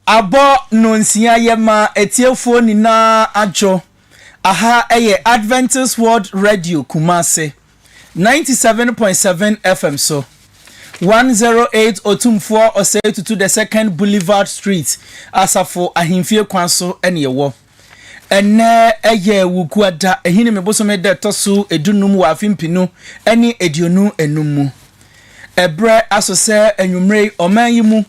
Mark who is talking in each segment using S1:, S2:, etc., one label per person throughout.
S1: Abɔ Nnɔnsia Yɛma Atiefoɔ Nyinaa Adwo Aha yɛ Adventist World Radio Kumasi, 97.7 FM so, 108 Otumfoɔ Osei Tutu the Second Boulevard Street, Asafo Ahemfie Kwan so na ɛwɔ. Ɛnnɛ yɛ Wogua da, Ahinime bosome da ɛtɔ so dunum wɔ afe mpenu ne aduonu nnum mu. Ɛberɛ aso sɛ anwummere yi ɔman yi mu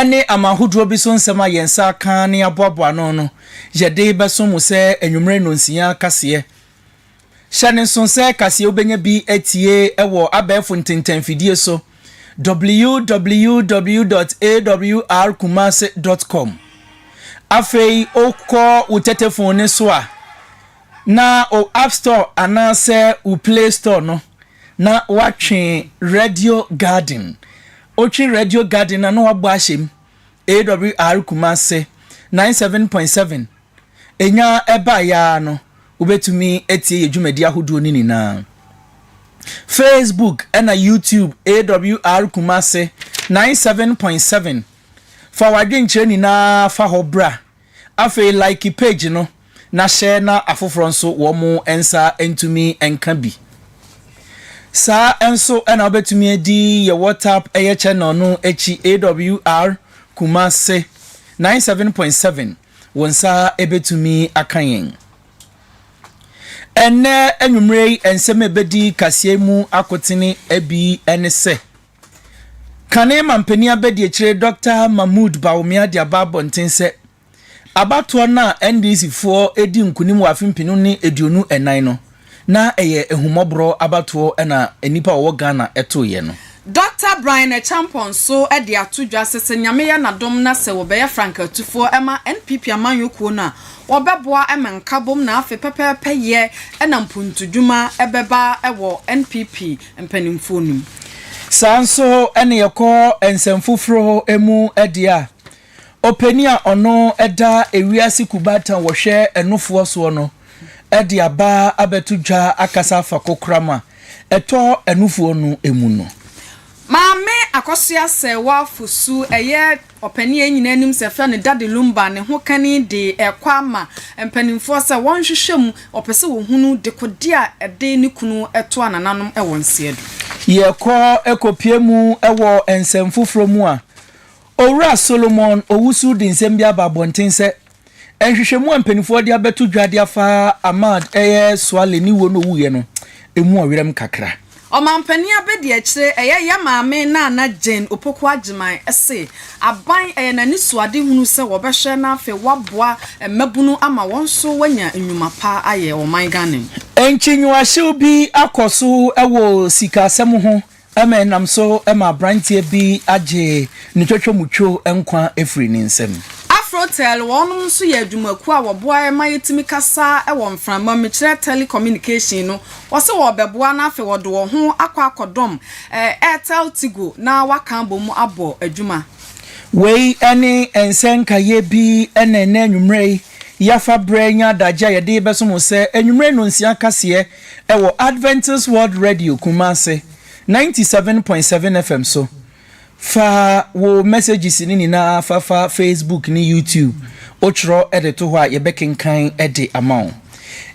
S1: ne aman ahodoɔ bi so nsɛm a yɛn nsa aka ne aboaboa ano no yɛde bɛso mo sɛ anwummere nnɔnsia kaseɛ Hyɛ no nso sɛ kaseɛ wobɛnya bi atie wɔ abɛɛfo ntentɛnfidie so, www.awrkumase dot com. Afei wokɔ wo tɛtɛfon no so a, na wo App Store anaasɛ wo Play Store no, na woatwe Radio Garden. Wotwe Radio Garden a, na woabɔ ahyɛ mu, AWR Kumase, 97.7 Enya ɛbaeɛ ara no, wobɛtumi atie yɛ dwumadi ahodoɔ no nyinaa. Facebook ɛna YouTube AWR Kumase 97.7 Fa w'adwenkyerɛ nyinaa fa hɔ bra. Afei like page no na share na afoforɔ nso wɔn nsa ntumi nka bi. Saa nso ɛna wobɛtumi adi yɛ WhatsApp ɛyɛ channel no akyi AWR Kumase 97.7. Wo nsa bɛtumi aka yɛn. Ɛnnɛ anwummerɛ yi nsɛm a ɛbɛdi kaseɛ mu akotene bi ne sɛ, Kane mampanin abadiakyire Dɔkta Mahmood Bawumia de aba abɔnten sɛ, abatoɔ no a NDC foɔ redi nkunim wɔ afe mpenu ne aduonu nnan no, Na ɛyɛ ahummɔborɔ abatoɔ na nnipa a wɔwɔ Ghana toeɛ no. Dɔkta Brian
S2: Acheampong nso de ato dwa sɛ sɛ Nyame yɛ n'adom na sɛ wɔbɛyɛ Frank Atufoɔ ma NPP amanyɔ kuo no a, wɔbɛboa ma nkabom na afe pɛpɛɛpɛ yɛ na mpuntudwuma bɛba wɔ NPP mpanimfoɔ no mu. Saa nso
S1: ne yɛkɔ nsɛmfoforo mu deɛ a. Ɔpanin a ɔno da ewiase kubata a wɔhwɛ ɛnofoɔ soɔ no de aba abɛto dwa akasa afa kokoram a ɛtɔ ɛnofoɔ no mu no. Maame
S2: Akosua Serwaa Fosu, ɛyɛ ɔpanin a nyinaa nim sɛ yɛfrɛ no Daddy Lumba, ne ho kani de rekɔ ama mpanimfoɔ sɛ wɔnhwehwɛ mu, ɔpɛ sɛ wɔhunu dekode a ɛde ne kunu toa nananom wɔ nseɛdo. Yɛkɔ
S1: kɔpie mu wɔ nsɛm foforɔ mu a, Owura Solomon Owusu de nsɛm bi aba abɔnten sɛ, Nhwehwɛmu a mpanimfoɔ de abɛto dwa de afa Ahmad ɛyɛ Suale ne wuo ne owuiɛ no, ɛmu ɔwerɛm kakra. Ɔmanpanin
S2: abadiakyire ɛyɛ yɛ maame Nana Jane Opoku Agyemang se aban ɛyɛ n'anisoadehunu sɛ wɔbɛhwɛ na afei wɔaboa mmabunu ama wɔn nso wɔanya nnwuma pa ayɛ wɔ ɔman Ghana mu. Nkyinwahyew
S1: bi akɔ so wɔ sikasɛm ho Ɛma ɛnam so ma aberanteɛ bi agye ne twatwamutwo nkwa firi ne nsam. Afrotel,
S2: wɔnom nso yɛ adwumakuo a wɔboa ma yɛtumi kasa wɔ mframa mu, mekyerɛ telecommunication no, wɔse wɔrebɛboa na afei wɔde wɔn ho akɔ akɔdɔm Airtel Tigo na wɔaka abɔ mu abɔ adwuma. Wei
S1: ne nsɛ nkaeɛ bi na ɛnnɛ anwummerɛ yi yɛafa berɛ anya adagyeɛ a yɛde rebɛso mo sɛ anwummerɛ nnɔnsia kaseɛ, Ɛwɔ Adventist World Radio Kumasi ninety seven point seven FM so. Fa wo messages no nyinaa fa fa Facebook ne YouTube. Wotwerɛ de to hɔ a, yɛbɛkenkan de ama wo.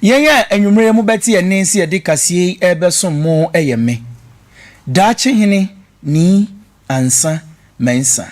S1: Yɛn a anwummere yi mobɛte yɛn nne sɛ yɛde kaseɛ yi rebɛsom mo yɛ me, Daakye Hene Nii Ansah Mensah,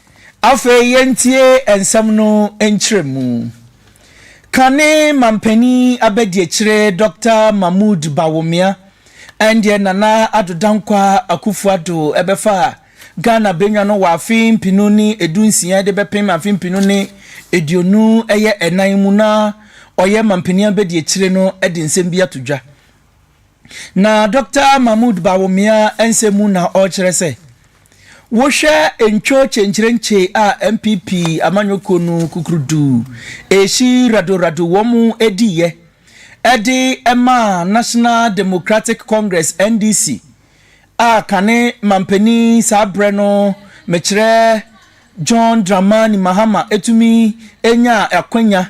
S1: Afei yɛntie nsɛm no nkyerɛmu. Kane manpanin abadiakyire Dɔkta Mahmoud Bawumia ɛndeɛ Nana Addo Dankwaah Akuffo Addo ɛbɛfa Ghana bɛnwa no wɔ afe mpenu ne ɛdu nsia de bɛpem afe mpenu ne aduonu ɛyɛ ɛnan mu na ɔyɛ manpanin abadiakyire no ɛde nsɛm bi ato dwa. Na Dɔkta Mahmoud Bawumia nsɛm mu na ɔrekyerɛ sɛ, wohwɛ ntwo kyenkyerenkye a NPP amanyɔkuo no kukurudu ɛresi radoradow wɔn diiɛ de maa National Democratic Congress, NDC, a kane manpanin saa berɛ no mekyerɛ John Dramani Mahama tumi nyaa akwanya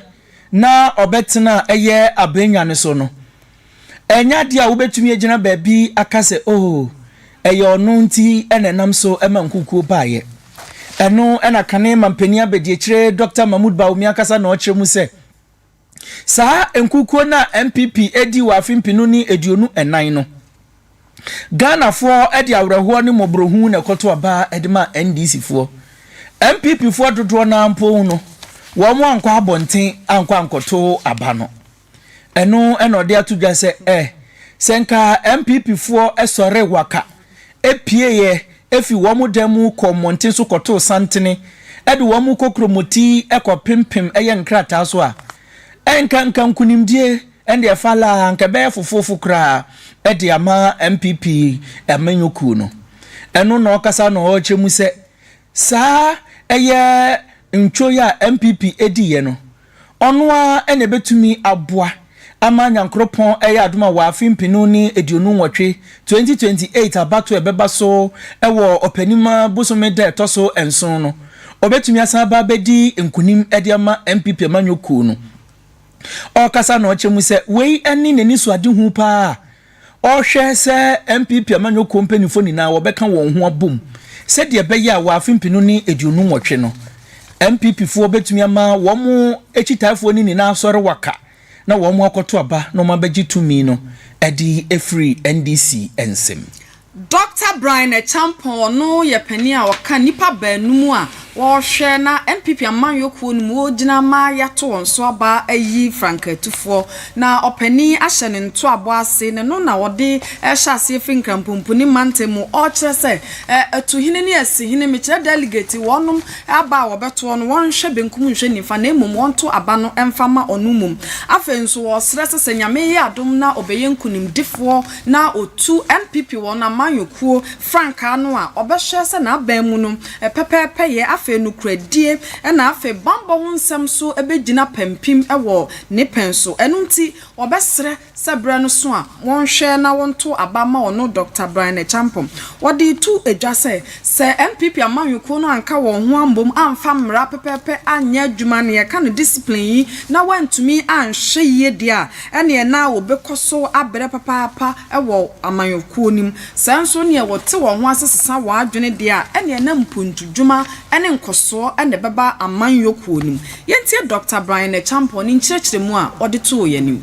S1: na ɔbɛtenaa ɛyɛ abennya no so no, Ɛnyɛ adeɛ a wobɛtumi agyina baabi aka sɛ, Oh, ɛyɛ ɔno nti na ɛnam so ma nkukuo baeɛ. Ɛno na kane mampanin abadiakyire Dɔkta Mahmoud Bawumia ankasa na ɔkyerɛ mu sɛ, Saa nkukuo no a NPP dii wɔ afe mpenu ne aduonu nnan no, Ghanafoɔ de awerɛhoɔ ne mmɔborɔhunu na ɛkɔto aba de maa NDCfoɔ. NPPfoɔ dodoɔ no ara mpo no, wɔankɔ abɔnten ankɔ ankɔto aba no. Ɛno na ɔde ato dwa sɛ, eh, sɛ nka MPPfoɔ sɔree waka, pieeɛ firi wɔn dan mu kɔɔ mmɔnten so kɔtoo santene de wɔn kokromoti kɔpempem yɛn nkrataa so a, ɛnka anka nkunimdie ɛnde ɛfa la a, anka ɛbɛyɛ fofoofo koraa de ama MPP amanyɔkuo no. Ɛno na ɔkasa na ɔrekyerɛ mu sɛ, saa ɛyɛ ntwoeɛ a MPP diiɛ no, Ɔno ara na ɛbɛtumi aboa ama Nyankoropɔn ayɛ adom a wɔ afe mpenu ne aduonu nwɔtwe, 2028, abatoɔ a ɛbɛba so wɔ ɔpɛnim bosome da a ɛtɔ so nson no, ɔbɛtumi asan aba abɛdi nkunim de ama NPP amanyɔkuo no. Ɔrekasa na ɔkyɛ mu sɛ wei ne n'anisoadehu pa ara a ɔrehwɛ sɛ NPP amanyɔkuo mpanimfoɔ nyinaa wɔbɛka wɔn ho abom sɛdeɛ ɛbɛyɛ a wɔ afe mpenu ne aduonu nwɔtwe no NPP foɔ bɛtumi ama wɔn akyitaafoɔ no nyinaa asɔre waka na wɔn akɔto aba na wɔabɛgye tumi no adi afiri NDC nsam. Dɔkta
S2: Brian Acheampong, ɔno yɛ panin a ɔka nnipa baanum a wɔrehwɛ na NPP amanyɔ kuo no mu wɔgyina ama yɛato wɔn so aba ayi frankaa atufoɔ. Na ɔpanin ahyɛ ne ntoabɔ ase, na ɛno na ɔde rehyɛ aseɛ firi Nkrampɔnpuni mantam mu ɔrekyerɛ sɛ Atuhene ne Asihene, mekyerɛ delegate, wɔnom aba a wɔbɛtoɔ no wɔnhwɛ benkum nhwɛ nifa na mmom wɔnto aba no mfa ma ɔno mmom. Afei nso ɔresrɛ sɛ sɛ Nyame yɛ adom na ɔbɛyɛ nkunimdifoɔ na otu NPP wɔn amanyɔkuo frankaa no a, ɔbɛhwɛ sɛ n'aban mu no, pɛpɛɛpɛyɛ, afei nokorɛdie, ɛna afei bammɔ ho nsɛm nso bɛgyina pampim wɔ ne pɛn so. Ɛno nti, wɔbɛsrɛ sɛ berɛ no so a, wɔnhwɛ na wɔnto aba mma ɔno Dɔkta Brian Acheampong. Wɔde reto dwa sɛ, Sɛ NPP amanyɔ kuo no anka wɔn ho ammom amfa mmara pɛpɛɛpɛ anyɛ adwuma nea ɛka no discipline yi na wɔantumi anhwɛ yie deɛ a, ɛneɛ na wɔbɛkɔ so abrɛ papaapa wɔ amanyɔ kuo no mu. Sɛ nso neɛ wɔte wɔn ho ase sesa wɔn adwene deɛ a, ɛneɛ na mpuntudwuma ne nkɔsoɔ na ɛbɛba amanyɔ kuo no mu. Yɛntie Dɔkta Brian Acheampong ne nkyerɛkyerɛmu a ɔde too yɛn anim.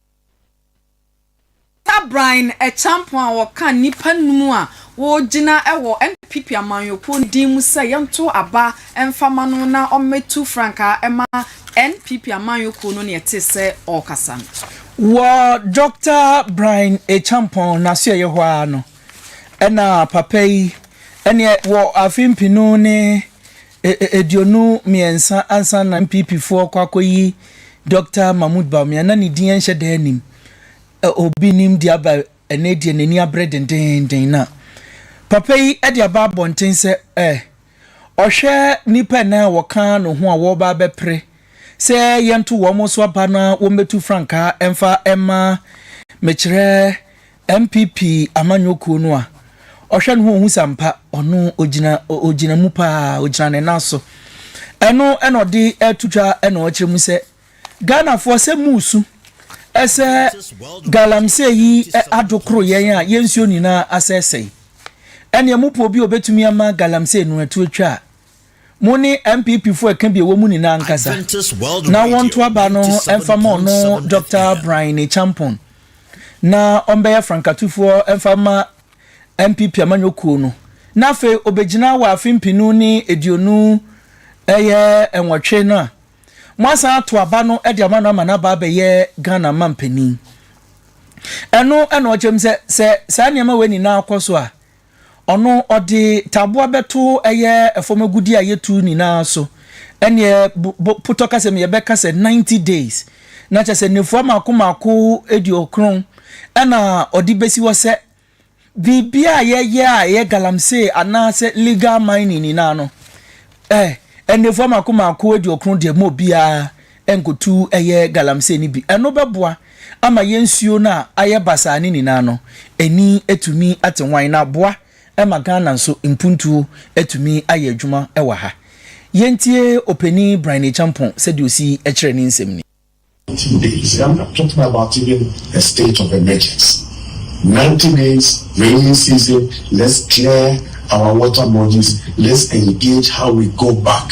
S2: Tabrain Acheampong a ɔka nnipa nnum a wɔregyina wɔ NPP amanyɔkuo no din mu sɛ yɛnto aba mfa mma no na ɔmmɛtu frankaa mma NPP amanyɔkuo no na yɛtee sɛ ɔrekasa no. Wɔ
S1: Dɔkta Brain Acheampong n'asoɛeɛ hɔ ara no na papa yi ne wɔ afe mpenu ne E aduonu mmiɛnsa ansa na NPP foɔ kɔ akɔyi Doctor Mahmood Bawumia na ne din ɛnhyɛ da anim ɛ obi nim deɛ aba ɛnɛ deɛ n'ani abre dendeenden na papa yi ɛde aba abɔnten sɛ ɛ ɔhwɛ nnipa ɛnɛ a wɔka no ho a wɔreba abɛpre sɛ yɛnto wɔn so aba na wɔmmɛtu frankaa ɛmfa ɛmma mekyerɛ NPP amanyɔ kuo no a ɔhwɛ no ho ɔhu sɛ ampa ɔno ɔgyina ɔgyina mu paa ɔgyina ne nan so ɛno ɛna ɔde ɛto dwa ɛna ɔkyerɛ mu sɛ Ghanafoɔ sɛ musu ɛsɛ galamsey yi adokoro yɛn a yɛn nsuo nyinaa asɛsɛe ɛneɛ mopɛ obi a ɔbɛtumi ama galamsey no atu atwa a Mo ne NPP fo ɛka bi ɛwɔ mu nyinaa nkasa na wɔnto aba no mfa ma ɔno Doctor Brine Champon na ɔmbɛyɛ frankatufoɔ mfa mma NPP amanyɔ kuo no na afei ɔbɛgyina wɔ afe mpenu ne aduonu ɛyɛ nwɔtwe no a mo asan ato aba no de ama no ama no aba abɛyɛ Ghana ma mpanin ɛno ɛna ɔkyɛm sɛ sɛ saa nneɛma wei nyinaa kɔ so a Ɔno ɔde taboa bɛto ɛyɛ fam agudeɛ a yɛtu nyinaa so. Ɛnneɛ bo potɔ ka sɛ mi yɛbɛka sɛ ninety days na kyɛ sɛ nnafua mmaako mmaako aduokron ɛna ɔde bɛsi hɔ sɛ biribiara a yɛyɛ a ɛyɛ galamsey anaasɛ legal mining nyinaa no ɛ nnafua mmaako mmaako aduokron deɛ mu obiara nkotu ɛyɛ galamsey no bi. Ɛno bɛboa ama yɛn nsuo no a ayɛ basaa no nyinaa no ani atumi ate wann na aboa ma Ghana nso mpuntuo atumi ayɛ adwuma wɔ ha. Yɛntie Opanin Brian Acheampong sɛdeɛ ɔsi kyerɛ ne nsɛm ni. Ninety days
S3: I'm not talking about even a state of emergency ninety days raining season let's clear our water bodies let's engage how we go back.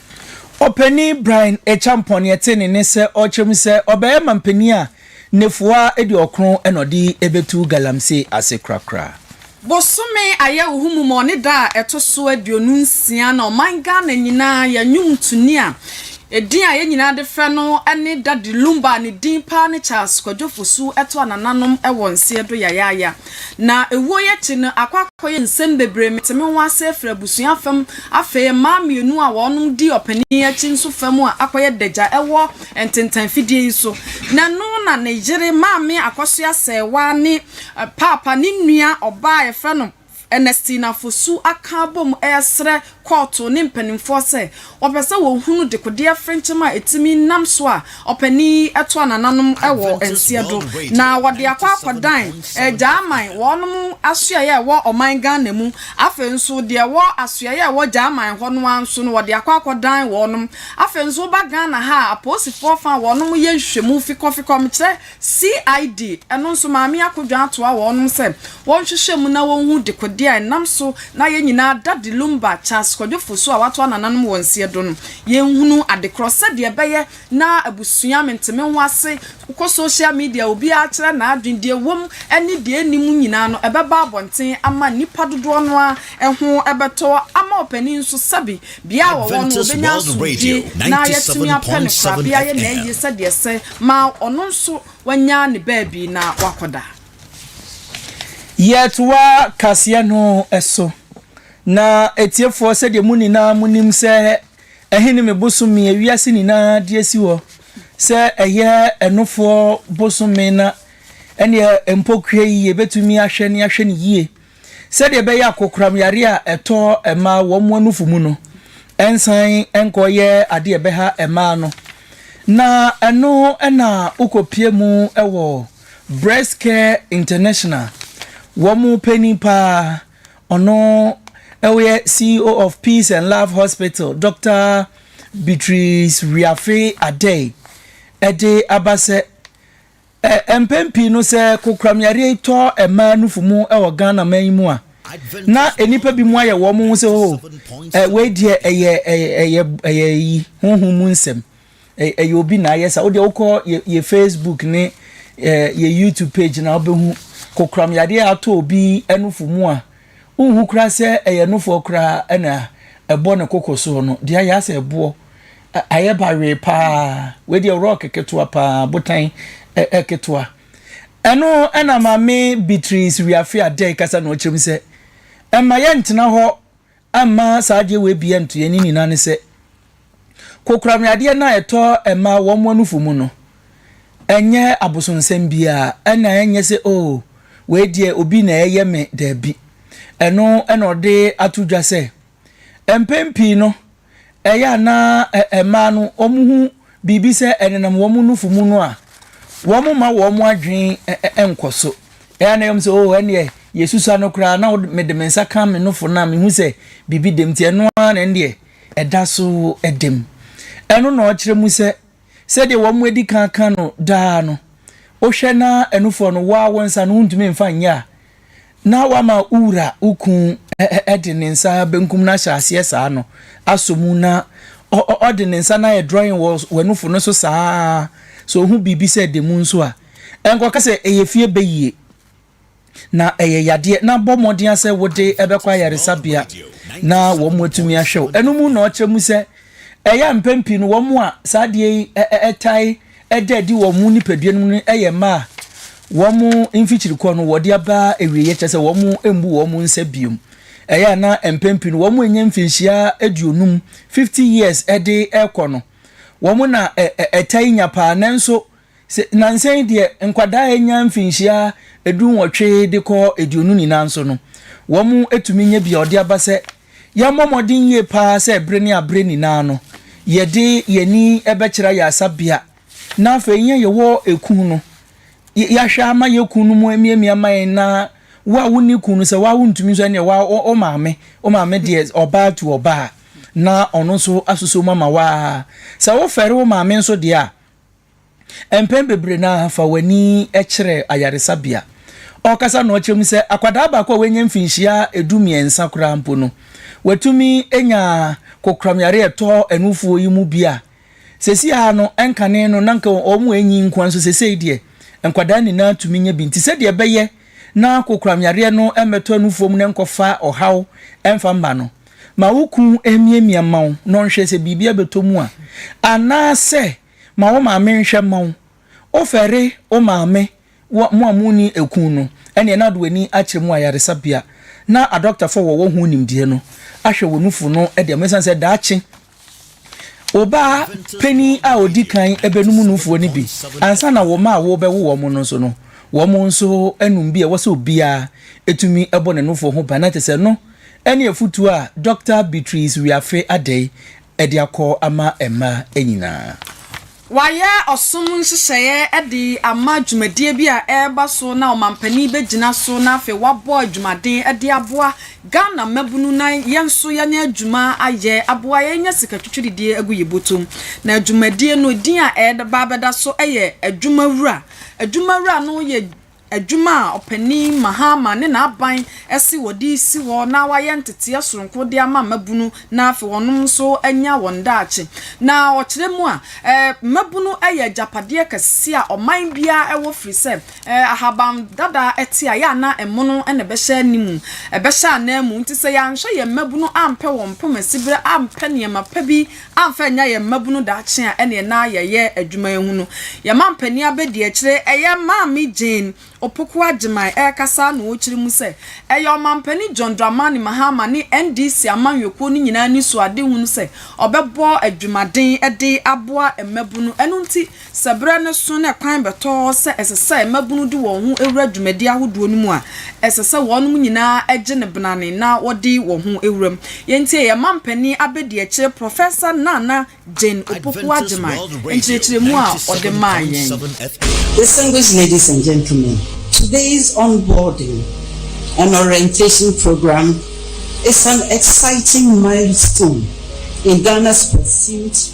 S3: Ɔpanyin
S1: Brian Acheampong nea ɛte ne ne sɛ ɔrekyerɛ mu sɛ ɔbɛyɛ manpanyin a nnafua aduɔkron na ɔde bɛtu galamsey ase korakora. Bosome
S2: Ayɛwoho mu ma ɔne da a ɛto so aduonu nsia na ɔman Ghana nyinaa yɛ nnwomtoni a edin a yɛn nyinaa de frɛ no ne Daddy Lumba a ne din paa ne Charles Kwadwo Fosu ɛto a nananom wɔ nseɛ do yayaaya. Na ewuo yi akyi no akɔ akɔyɛ nsɛm bebree mete me ho ase afiri abusua fam afei mmaa mmienu a wɔnom di ɔpanin akyi nso fam a akɔyɛ dagya ɛwɔ ntentan fidie yi so na ɛno na ne yere maame akɔso asɛɛwaa ne paapa ne nua ɔbaa a yɛfrɛ no Ernestina Fosu aka abom ɛɛsrɛ kɔɔto ne mpanimfoɔ sɛ wɔpɛ sɛ wɔhunu dekodeɛ frenkyɛm a ɛtumi nam so a ɔpanin yi toa nananom wɔ nseɛ do na wɔde akɔ akɔdan Gyaman wɔnom asoɛeɛ a ɛwɔ ɔman Ghana mu. Afei nso deɛ ɛwɔ asoɛeɛ a ɛwɔ Gyaman hɔ no ara nso no wɔde akɔ akɔdan wɔnom. Afei nso woba Ghana ha a apolisifoɔ fa a wɔnom yɛ nhwehwɛmu fikɔfikɔ mekyerɛ CID, ɛno nso Maame Akodwa atoa wɔnom sɛ wɔnhwehwɛ mu na wɔnhu dekode a ɛnam so na yɛn nyinaa da De Lumba, Charles Kwadwo Fosu a watoa nananom wɔ nseɛ do no, yɛnhunu adekorɔ sɛdeɛ ɛbɛyɛ na abusua mentemenho ase, wokɔ social media a obiara kyerɛ n'adwene, deɛ ɛwɔ mu ne deɛ ɛnni mu nyinaa no ɛbɛba abɔnten ama nnipa dodoɔ no ara ho bɛtɔ ama ɔpanin nso sɛbe Bea a wɔwɔ no, wɔbɛnya asomdwoe na yɛatumi apɛ no korabea yɛ na eye sɛdeɛ ɛsɛ ma ɔno nso wanya ne baabi
S1: na wakɔda. Yɛtoa kaseɛ no so, na atiefoɔ sɛdeɛ mo nyinaa monim sɛ ɛhe ne me bosome a wiase nyinaa de asi hɔ sɛ ɛyɛ ɛnofoɔ bosome na ɛnneɛ mpokuwa yi yɛbɛtumi ahwɛ ne ahwɛ no yie sɛdeɛ ɛbɛyɛ a kokoram yareɛ a ɛtɔ mmaa wɔn anufo mu no nsan nkɔyɛ adeɛ a ɛbɛha mmaa no. Na ɛno na wokɔpue mu wɔ Breast Care International, wɔn panin paa, ɔno ɔyɛ CEO of Peace and Love Hospital, Doctor Beatrice Wiafe Adei, ɛde aba sɛ, Ɛ, mpɛn pii no sɛ kokoramyareɛ yi tɔ mmaa nufu mu wɔ Ghana man yi mu a, na nnipa bi mu ayɛ wɔn ho sɛ oh, ɛ, wei deɛ ɛyɛ, ɛyɛ, ɛyɛ, ɛyɛ yi, honhom mu nsɛm. Ɛ, ɛyɛ obi na ayɛ sa. Wodeɛ wokɔ yɛ, yɛ Facebook ne ɛ, yɛ YouTube page na wobɛhu kokoramyareɛ a atɔ obi nufu mu a, Wonhu koraa sɛ ɛyɛ nofoɔ koraa ɛna ɛbɔ ne koko soɔ no, deɛ ayɛ asɛ ɛboɔ, ayɛ bawee paa, wei deɛ rock ketewa paa, botan ketewa. Ɛno ɛna maame Beatrice Wiafe Adei kasa na ɔkyerɛ mu sɛ, ɛmma yɛntena hɔ mma saa adeɛ wei bi ɛnto yɛn, ne nyinaa ne sɛ, Kokoramyadeɛ no a ɛtɔ mmaa wɔn anufo mu no, ɛnyɛ abosonsɛm biara, ɛna ɛnyɛ sɛ oh, wei deɛ obi na ɛyɛ me, daabi. Ɛno na ɔde ato dwa sɛ, mpɛn pii no, ɛyɛ a na mmaa no wɔhu biribi sɛ ɛnenam wɔn nufo mu no a, wɔmma wɔn adwene nkɔ so. Ɛyɛ a na ɛyɛ wɔn sɛ, oh, ɛnneɛ yɛsusua no koraa, na mede me nsa ka me nufo no a, mehu sɛ biribi da mu, nti ɛno ara na ɛnneɛ ɛda so da mu. Ɛno na ɔkyerɛ mu sɛ, sɛdeɛ wɔadi kan aka no daa no, Wohwɛ na ɛnofoɔ no, wo ara wo nsa no wontumi mfa nyɛ a, na woama wo wura, wo kunu, de ne nsa benkum no ahyɛ aseɛ saa no asɔ mu, na ɔde ne nsa no ayɛ drawing wɔ w'anofo no so saa ara, sɛ ɔhu biribi sɛ ɛda mu nso a, ɛnkɔka sɛ ɛyɛ fie bɛyie. na ɛyɛ yadeɛ na bɔ mmɔden sɛ wode bɛkɔ ayaresabea na wɔn atumi ahwɛ wo. Ɛno mu na ɔkyerɛ mu sɛ ɛyɛ a mpɛn pii no wɔn a saa adeɛ yi ɛtae ɛda adi wɔ wɔn nipadua no mu no yɛ mmaa a wɔn mfikyirikɔ no wɔde aba awieeɛ kyerɛ sɛ wɔn mmu wɔn nsa biom. Ɛyɛ a na mpɛn pii no wɔn ɛnyɛ mfinhyia aduonum, 50 years, ɛde ɛkɔ no wɔn na ɛtae nya paa nanso Sɛ nnansa yi deɛ nkwadaa a anya mfinhyia dunwɔtwe de kɔ aduonu nyinaa nso no, wɔatumi anya bi a wɔde aba sɛ yɛmmɔ mmɔden yie pa ara sɛ bere ne abere nyinaa no, yɛde yɛn ani bɛkyerɛ ayaresabea na afei yɛn a yɛwɔ ekunu no, yɛahwɛ ama yɛn kunu no mu amiamia ama yɛn na wo a wonni kunu no, sɛ wo a wontumi nso ɛnneɛ wo a wo maame, wo maame deɛ ɔbaa tu ɔbaa na ɔno nso asosɔ mu ama wo ara. Sɛ wofɛre wo maame nso deɛ a, Mpɛn bebree no ara fa w'ani kyerɛ ayaresabea. Ɔrekasa na ɔkyerɛ mu sɛ, Akwadaa baako a wanya mfinhyia du mmiɛnsa koraa mpo no, watumi anya kokoramyare a ɛtɔ anufoɔ yi mu bi a seesei ara no ɛnkane no na anka wɔanyin nko ara nso seesei deɛ nkwadaa nyinaa tumi nya bi. Nti sɛdeɛ ɛbɛyɛ na kokoramyareɛ no mmɛtɔ anufoɔ mu na ɛnkɔfa ɔhaw mfa mma no, Ma wo kunu mmiamia mma wo na ɔnhwɛ sɛ biribi abɛtɔ mu a, anaasɛ ma wo maame nhwɛ mma wo. Wofɛre wo maame wɔ mo a monni kunu no, ɛnneɛ na ɔde w'ani akyerɛ mu wɔ ayaresabea na adɔktafoɔ a wɔwɔ ho nimdeɛ no ahwɛ wo nufu no de ama wo, ɛsiane sɛ daakye Wo ba panin a ɔdi kan bɛnom nufoɔ no bi ansa na wo mma a worebɛwo wɔn no nso no, wɔn nso anom bi. Ɛwɔ sɛ obiara tumi bɔ ne nufoɔ ho ban. Na kyerɛ sɛ ɛno ne afotuo a Dɔkta Beatrice Wiafe Adei de akɔ ama mmaa nyinaa. Wɔayɛ
S2: ɔsom nhyehyɛeɛ de ama dwumadie bi a ɛreba so na ɔmampanin bɛgyina so na afei wabɔ adwumaden de aboa Ghana mmabunu na yɛn nso yɛanya adwuma ayɛ aboa yɛn anya sika twitwiridie agu yɛn bɔtɔm. Na dwumadie no din a ɛde ba abɛda so yɛ Adwumawura. Adwumawura no yɛ. adwuma a Ɔpanyin Mahama ne n'aban se wɔde resi hɔ na wɔayɛ nteteɛ soronko de ama mmabunu na afei wɔnom nso anya wɔn daakye. Na ɔkyerɛ mu a, mmabunu yɛ agyapadeɛ kɛseɛ a ɔman biara wɔ firi sɛ ahaban dada te a, yɛ a na ɛmono na ɛbɛhyɛ ne mu, ɛbɛhyɛ ananmu. Nti sɛ yɛanhwɛ yɛn mmabunu ampɛ wɔn mpoma siberɛ, ampɛ nneɛma pa bi amfa annya yɛn mmabunu daakye a ɛne ɛnã yɛyɛ adwuma yi ho no. Yɛn mampanin abadiakyire, ɛyɛ Maame Jane Opoku Agyemang rekasa na ɔrekyerɛ mu sɛ, ɛyɛ Ɔmampanin John Dramani Mahama ne NDC amanyɔkuo no nyinaa anisoadehunu sɛ ɔbɛbɔ adwumaden de aboa mmabunu, ɛno nti Sɛ berɛ no so na ɛkwan bɛtɔ sɛ ɛsɛ sɛ mmabunu de wɔn ho wura dwumadie ahodoɔ no mu a, ɛsɛ sɛ wɔnom nyinaa gye no benane na wɔde wɔn ho wura mu. Yei nti yɛyɛ mampanin abadiakyire Professor Nana Jane Opoku Agyemang nkyerɛkyerɛmu a ɔde maa yɛn. Distinguished
S4: ladies and gentlemen, today's onboarding and orientation programme is an exciting milestone in Ghana's pursuit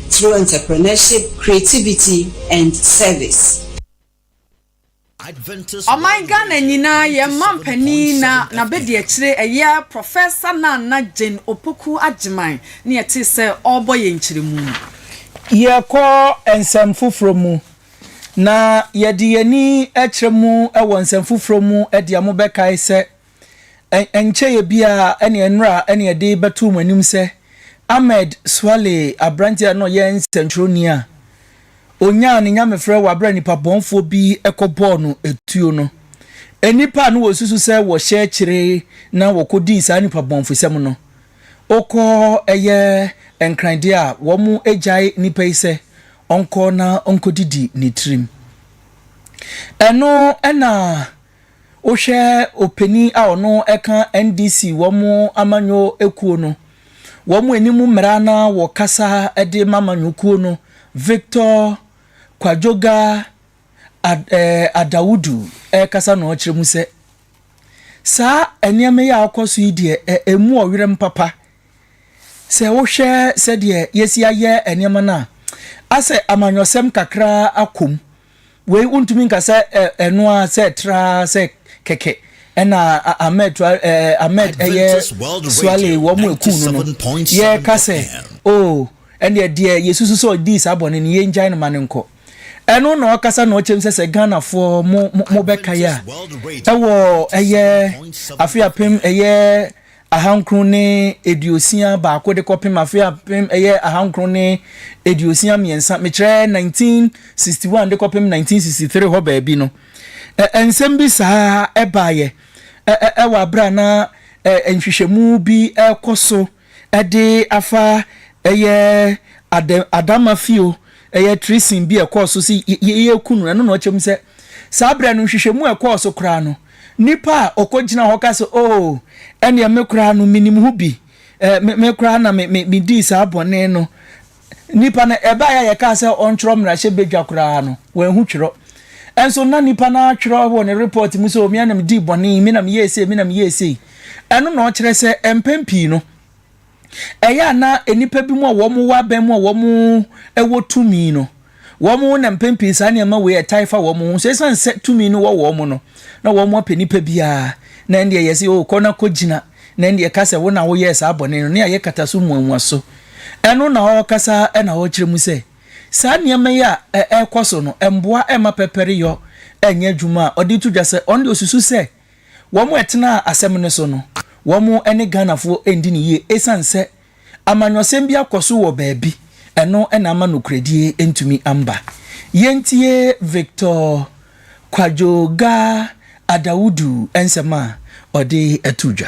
S4: through entrepreneurship, creativity and service.
S2: Ɔman Ghana nyinaa yɛn manpanin na n'abadiakyire ɛyɛ Professor Nana Jane Opoku Agyemang ne yɛtee sɛ ɔrebɔ yɛn nkyerɛmu no. Yɛkɔ
S1: nsɛm foforɔ mu, na yɛde yɛn ani kyerɛ mu wɔ nsɛm foforɔ mu de a mobɛkae sɛ Ɛnkyɛeɛ biara na nnora na yɛde bɛtoo mo anim sɛ Ahmed Swaleh, aberanteɛ a na ɔyɛ nsɛntwerɛni a ɔnyaa ne nyamefrɛ wɔ aberɛ a nnipa bɔnfoɔ bi kɔbɔɔ no tuo no. Nnipa a na wɔsusu sɛ wɔhyɛ kyere na wɔkɔdii saa nnipa bɔnfosɛm no, wokɔ ɛyɛ nkran deɛ a wɔgyae nnipa yi sɛ ɔnkɔ na ɔnkɔdidi ne tirim. Ɛno na Wohwɛ opanin a ɔno ɛka NDC wɔn amanyɔ kuo no wɔn anim mmara na wɔ kasa de ma amanyɔ kuo no Victor Kwadwoga Ad eh, Adawudu ɛkasa na ɔkyerɛ mu sɛ saa nneɛma yi a ɔkɔ so yi deɛ ɛ, ɛmu ɔwerɛm papa sɛ wohwɛ sɛdeɛ yɛsi ayɛ nneɛma no a asɛ amanyɔsɛm kakra akɔ mu Wei wontumi nka sɛ ɛno ara sɛ traa sɛ kɛkɛ ɛna Ahmed Ahmed ɛyɛ Suale wɔn mu eku no no yɛ ka sɛ oh ɛndeɛ deɛ yɛ susu sɛ ɔdii saa bɔne no yɛ ngyae no ma no nkɔ ɛno na ɔkasa na ɔkyɛm sɛ sɛ Ghana foɔ mo mo bɛka yɛ a ɛwɔ ɛyɛ afe apem ɛyɛ ahankron ne aduosia baako de kɔpem afe apem ɛyɛ ahankron ne aduosia mmiɛnsa, mekyerɛ nineteen sixty one de kɔpem nineteen sixty three hɔ baabi no, ɛ, nsɛm bi saa ɛbaeɛ ɛ, ɛ, wɔ aberɛ a na ɛ, nhwehwɛmu bi rekɔ so de afa ɛyɛ Ad, Adamafio ɛyɛ treason bi a ɛkɔɔ so sɛ yɛ, yɛreku no, ɛno na ɔkyɛm sɛ saa berɛ no nhwehwɛmu a ɛkɔɔ so koraa no, Nipa a ɔkɔ gyina hɔ ka sɛ, Oh, ɛneɛ me koraa no menim ho bi, eh, me koraa na me, me, me dii saa bɔne no. Nipa no, ɛbaeɛ a yɛkaa sɛ ɔntwerɛ mmarahyɛ badwa koraa no, wanhu twerɛ. Ɛnso na nipa no atwerɛ wɔ ne report mu sɛ, oh, me na me dii bɔne, me na me yɛɛ sei, me na me yɛɛ sei. Ɛno na ɔkyerɛ sɛ, mpɛn pii no, ɛyɛ a na nnipa bi mu a wɔn wɔ abɛn mu a wɔn wɔ tumi no, wɔn na mpɛn pii saa nneɛma wei ɛtae fa wɔn ho. So ɛsan sɛ tumi no wɔ wɔn mu no, na wɔn apɛ nipa biara na ɛndeɛ yɛ sɛ o kɔ na kɔ gyina na ɛndeɛ ka sɛ wo na woyɛɛ saa bɔne no ne ayɛ kata so muamua so. Ɛno na ɔrekasa na ɔrekyerɛ mu sɛ saa nneɛma yi a ɛrekɔ so no ɛmboa ɛmma pɛpɛreyɔ ɛnyɛ adwuma a ɔde to dwa sɛ ɔno deɛ ɔsusu sɛ Wɔn a ɛtenaa asɛm no so no, wɔn ne Ghanafoɔ nndi no yie ɛsiane sɛ amanyɔsɛm bi akɔ so wɔ baabi, ɛno na ama nokorɛdie ntumi amba. Yɛntie Victor Kwadwo Ga Adawudu nsɛm a ɔde to dwa.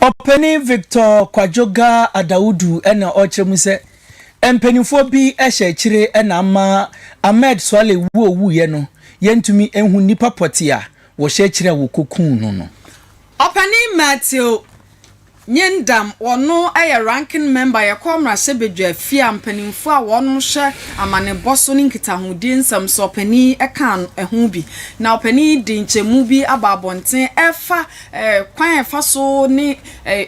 S1: Ɔpanin Victor Kwadwoga Adawudu na ɔrekyerɛ mu sɛ, Mpanimfoɔ bi hyɛ akyire na ama Ahmed Suale wu a ɔwuiɛ no, yɛntumi nhu nnipa pɔtee a wɔhyɛ akyire a wɔkɔkuu no no. Ɔpanin
S2: Matthew Nyendam, ɔno yɛ Ranking Member Yɛkɔɔ Mmarahyɛbadwa fie a mpanimfoɔ a wɔhwɛ amanebɔ so ne nkitahodie nsɛm so ɔpanin kaa ho bi, na ɔpanin yi de nkyɛmu bi aba abɔnten ɛrefa kwan a ɛfa so ne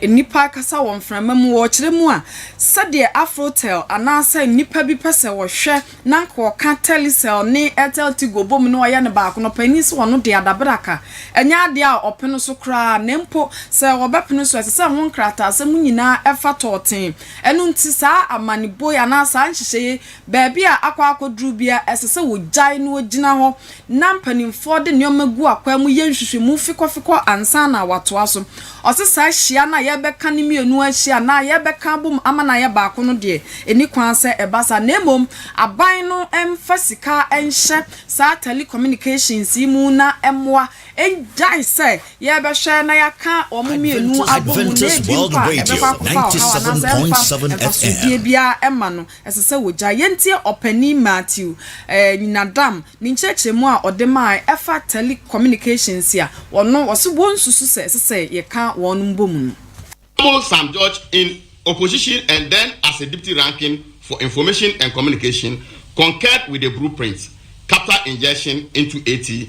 S2: nnipa rekasa wɔ mframa mu, wɔrekyerɛ mu a, sɛdeɛ Afrotel anaasɛ nnipa bi pɛ sɛ wɔhwɛ na anka ɔka Telecel ne Airtel Tigo bom na ɔyɛ no baako no, panin sɛ ɔno deɛ adabraka nyɛ adeɛ a ɔpene so koraa na mpo sɛ ɔbɛpene so a, ɛsɛ sɛ ɛho nkrataasɛm nyinaa fa tɔɔtee. Ɛno nti saa amanebo yi anaa saa nhyehyɛeɛ yi, baabi a akɔ akɔduru biara ɛsɛ sɛ wɔgyae na wɔgyina hɔ na mpanimfoɔ de nneɛma gu akwan mu yɛ nhwehwɛmu fekɔfekɔ ansa na wɔatoa so. Ɔse saa hyia no a yɛrebɛka no mmienu ahyia anaa yɛrebɛka abom ama no ayɛ baako no deɛ, ɛnni kwan sɛ ɛba saa na mmom aban no mfa sika nhyɛ saa telecommunications yi mu na mmoa nnyae sɛ yɛrebɛhwɛ na yɛaka wɔn mmienu abom na ɛbi mpo a ɛbɛkɔ
S5: akɔfa ɔhaw anaasɛ ɛmfa mfasodeɛ biara mma no.
S2: ɛsɛ sɛ wogyae. Yɛntie Ɔpanyin Matthew Nyinadam ne nkyerɛkyerɛmu a ɔde mae ɛfa telecommunications a ɔno ɔse wonsusu sɛ ɛsɛ sɛ yɛka wɔn mbom no. Samuel Sam
S6: George in opposition and then as a Deputy Ranking for Information and Communication concurred with the blueprint, capital injection into AT,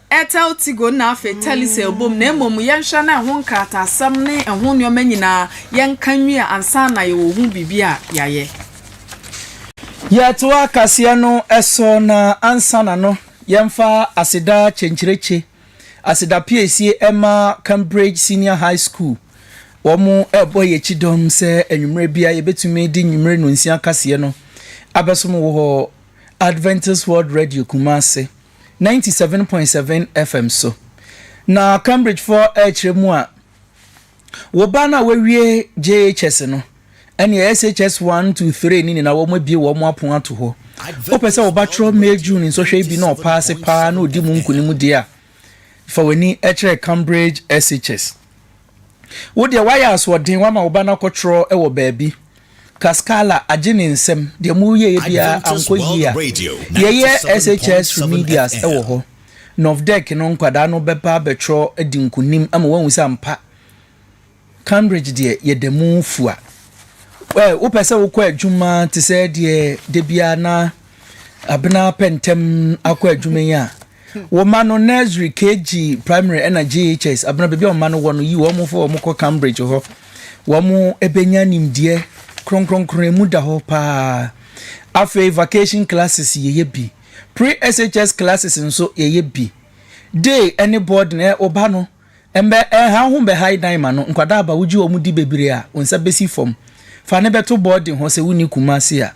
S2: Etel, Tigol na afei Telisel bom, na mmom yɛnhwɛ na ɛho nkrataasɛm ne ɛho nneɛma nyinaa yɛnka nwie ansa na yɛwɔ ho biribi a yɛayɛ. Yɛtoa
S1: kaseɛ no so na ansa na no yɛmfa aseda kyenkyerekye aseda piesie ɛma Cambridge Senior High School, wɔn ɛrebɔ yɛn kyidɔm sɛ anwummerɛ biara yɛbɛtumi de nwummere nnɔnsia kaseɛ no abɛsom wɔ Adventist World Radio Kumasi. ninety seven point seven FM so. Na Cambridgefoɔ rekyerɛ mu a, wo ba no a wawie JHS no, ɛnneɛ SHS one to three no nyinaa wɔabue wɔn apono ato hɔ. Wopɛ sɛ wo ba twerɛ May June nsɔhwɛ yi bi na ɔpaase paa na ɔdi mu nkonim deɛ a, fa w'ani kyerɛ Cambridge SHS. Wo deɛ woayɛ asoɔden, woama wo ba no akɔtwerɛ wɔ baabi. Cascala agye ne nsam, deɛ moreyɛeɛ biara ankɔ yie a, yɛyɛ SHS Remedials wɔ hɔ. Novdec no nkwadaa no bɛba abɛtwerɛ adi nkonim ama woahu sɛ ampa Cambridge deɛ yɛda mu fua. Ɛ, wopɛ sɛ wokɔ adwuma te sɛ deɛ da biara na Abena pɛ ntɛm akɔ adwuma yi a, Wo mma no, nursery, KG, primary ɛna JHS, abena baabi a wo mma no wɔ no, yi wɔn fɔ wɔn kɔ Cambridge hɔ. Wɔn ɛbɛnya nimdeɛ kronkronkron, ɛmu da hɔ paa. Afei vacation classes yɛyɛ bi. Pre-SHS classes nso yɛyɛ bi. Day ɛne boarding, ɛ, wo ba no, ɛmbɛ, ɛnha wo ho mbɛha yi dan ma no. Nkwadaa aba, wogye wɔn di bebree a, wo nsa bɛsi fam. Fa no bɛto boarding hɔ sɛ wonni Kumasi a.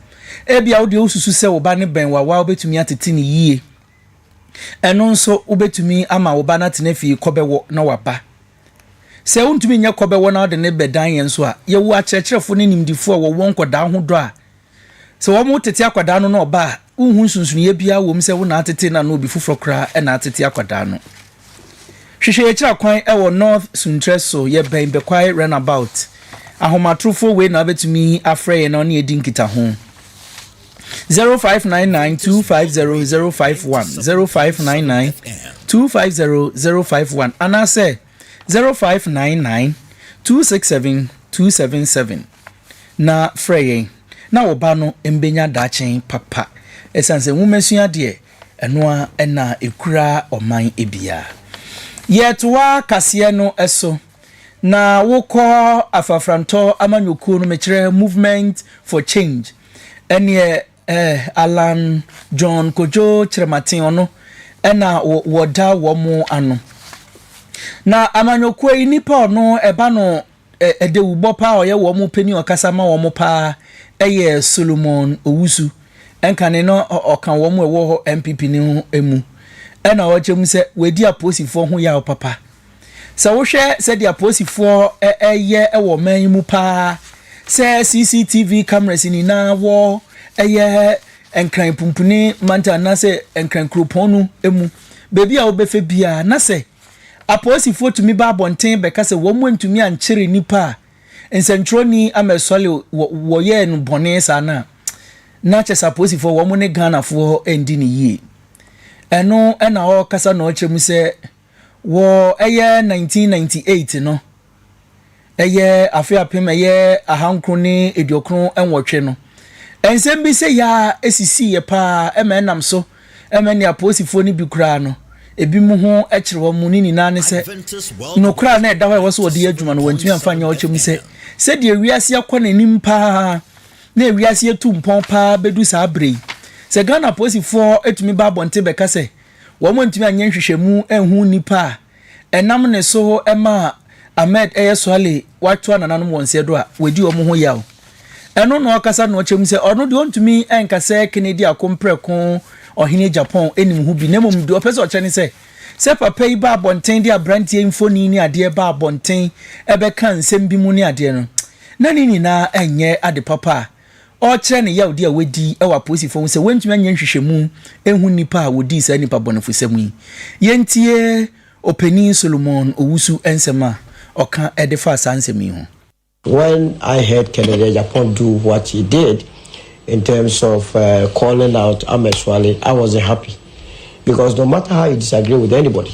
S1: Ebia wo deɛ wosusu sɛ wo ba no bɛn wo a, woa wobɛtumi atete no yie. Ɛno nso, wobɛtumi ama wo ba no atena fie kɔbɛwɔ na waba. Sɛ wontumi nyɛ kɔbɛwɔ na wode no bɛdan yɛn nso a, yɛwɔ akyerɛkyerɛfoɔ ne nimdifoɔ a wɔwɔ nkwadaa ho dɔ a sɛ wɔtete akwadaa no na ɔba a, wonhu nsonsonoeɛ biara wɔ mu sɛ wo na atete no anaa obi foforɔ koraa na atete akwadaa no. Hwehwɛ yɛn akyiri akwan wɔ North Suntress so, yɛbɛn Bekwai Runabout. Ahomatorofoɔ wei na wobɛtumi afrɛ yɛn na wo ne yɛn adi nkitaho. zero five nine nine two five zero zero five one zero five nine nine two five zero zero five one anaasɛ zero five nine nine two six seven two seven seven na frɛ yɛn na wo ba no mbɛnya daakye papa ɛsiane sɛ nwomasua deɛ ɛno a ɛna ɛkura ɔman bia yɛtoa kaseɛ no ɛso na wokɔ afrafrantɔ amanyɔkuo no mekyerɛ movement for change Ɛneɛ eh Allan John Kojo Kyerematen ɔno na wɔda wɔn ano. Na amanyɔkuo yi nipa a ɔno ɛba no ɛdawubɔ paa ɔyɛ wɔn panin ɔkasa ma wɔn paa ɛyɛ Solomon Owusu. Ɛnkane no ɔka wɔn ɛwɔ hɔ NPP no mu. Ɛna ɔkyɛ mu sɛ wadi aposifoɔ ho yaw papa. Sɛ wohwɛ sɛdeɛ apolisifoɔ yɛ wɔ ɔman yi mu paa sɛ CCTV cameras nyinaa wɔ ɛyɛ Nkran Pumpuni mantam anaasɛ Nkran kuropɔn no mu baabi a wobɛfɛ biara na sɛ apolisifoɔ tumi ba abɔnten bɛka sɛ wɔn antumi ankyere nnipa a nsɛntwerɛni Ahmed Swaleh wɔyɛɛ no bɔne saa no a na kyɛ sɛ apolisifoɔ wɔn ne Ghanafoɔ ndi no yie. Ɛno na ɔrekasa na ɔrekyerɛ mu sɛ Wɔ ɛyɛ 1998 no, ɛyɛ afe apem ɛyɛ ahankron ne aduokron nwɔtwe no, nsɛm bi sɛ yaa ɛsisiiɛ paa ɛma ɛnam so ɛma nea Apolisifoɔ no bi koraa no ebinom ho kyere wɔn mu, ne nyinaa ne sɛ nokorɛ a na ɛda hɔ a ɛwɔ sɛ wɔde yɛ adwuma no wɔantumi amfa anyɛ ɔkyɛ mu sɛ sɛdeɛ wiase akɔ n'anim paa na wiase atu mpɔn paa bɛdu saa berɛ yi sɛ Ghana Apolisifoɔ tumi ba abɔnten bɛka sɛ Wɔantumi anyɛ nhwehwɛmu anhu nnipa a ɛnam ne so maa Ahmed yɛ Swaleh watoa nananom wɔn sɛ do a wɔadi wɔn ho yaw. Ɛno na ɔkasa na ɔkyɛ mu sɛ ɔno deɛ ɔntumi nka sɛ Kennedy ako mprɛko ɔhene Japan nim ho bi na mmom deɛ ɔpɛ sɛ ɔkyɛ ne sɛ sɛ papa yi ba abɔnten de abranteɛ mfoni ne adeɛ ba abɔnten bɛka nsɛm bi mu ne adeɛ no na ne nyinaa nyɛ ade papa a ɔrekyerɛ ne yawdi a wadi wɔ apolisifo ho sɛ wɔantumi anyɛ nhwehwɛmu anhu nnipa a wodii saa nnipa bɔnefosɛm yi. Yentie Ɔpanyin Solomon Owusu nsɛm a ɔka de faa saa nsɛm yi ho. When
S7: I heard Kennedy Agyapong do what he did in terms of calling out Amesuale, I wasn't happy because no matter how you disagree with anybody,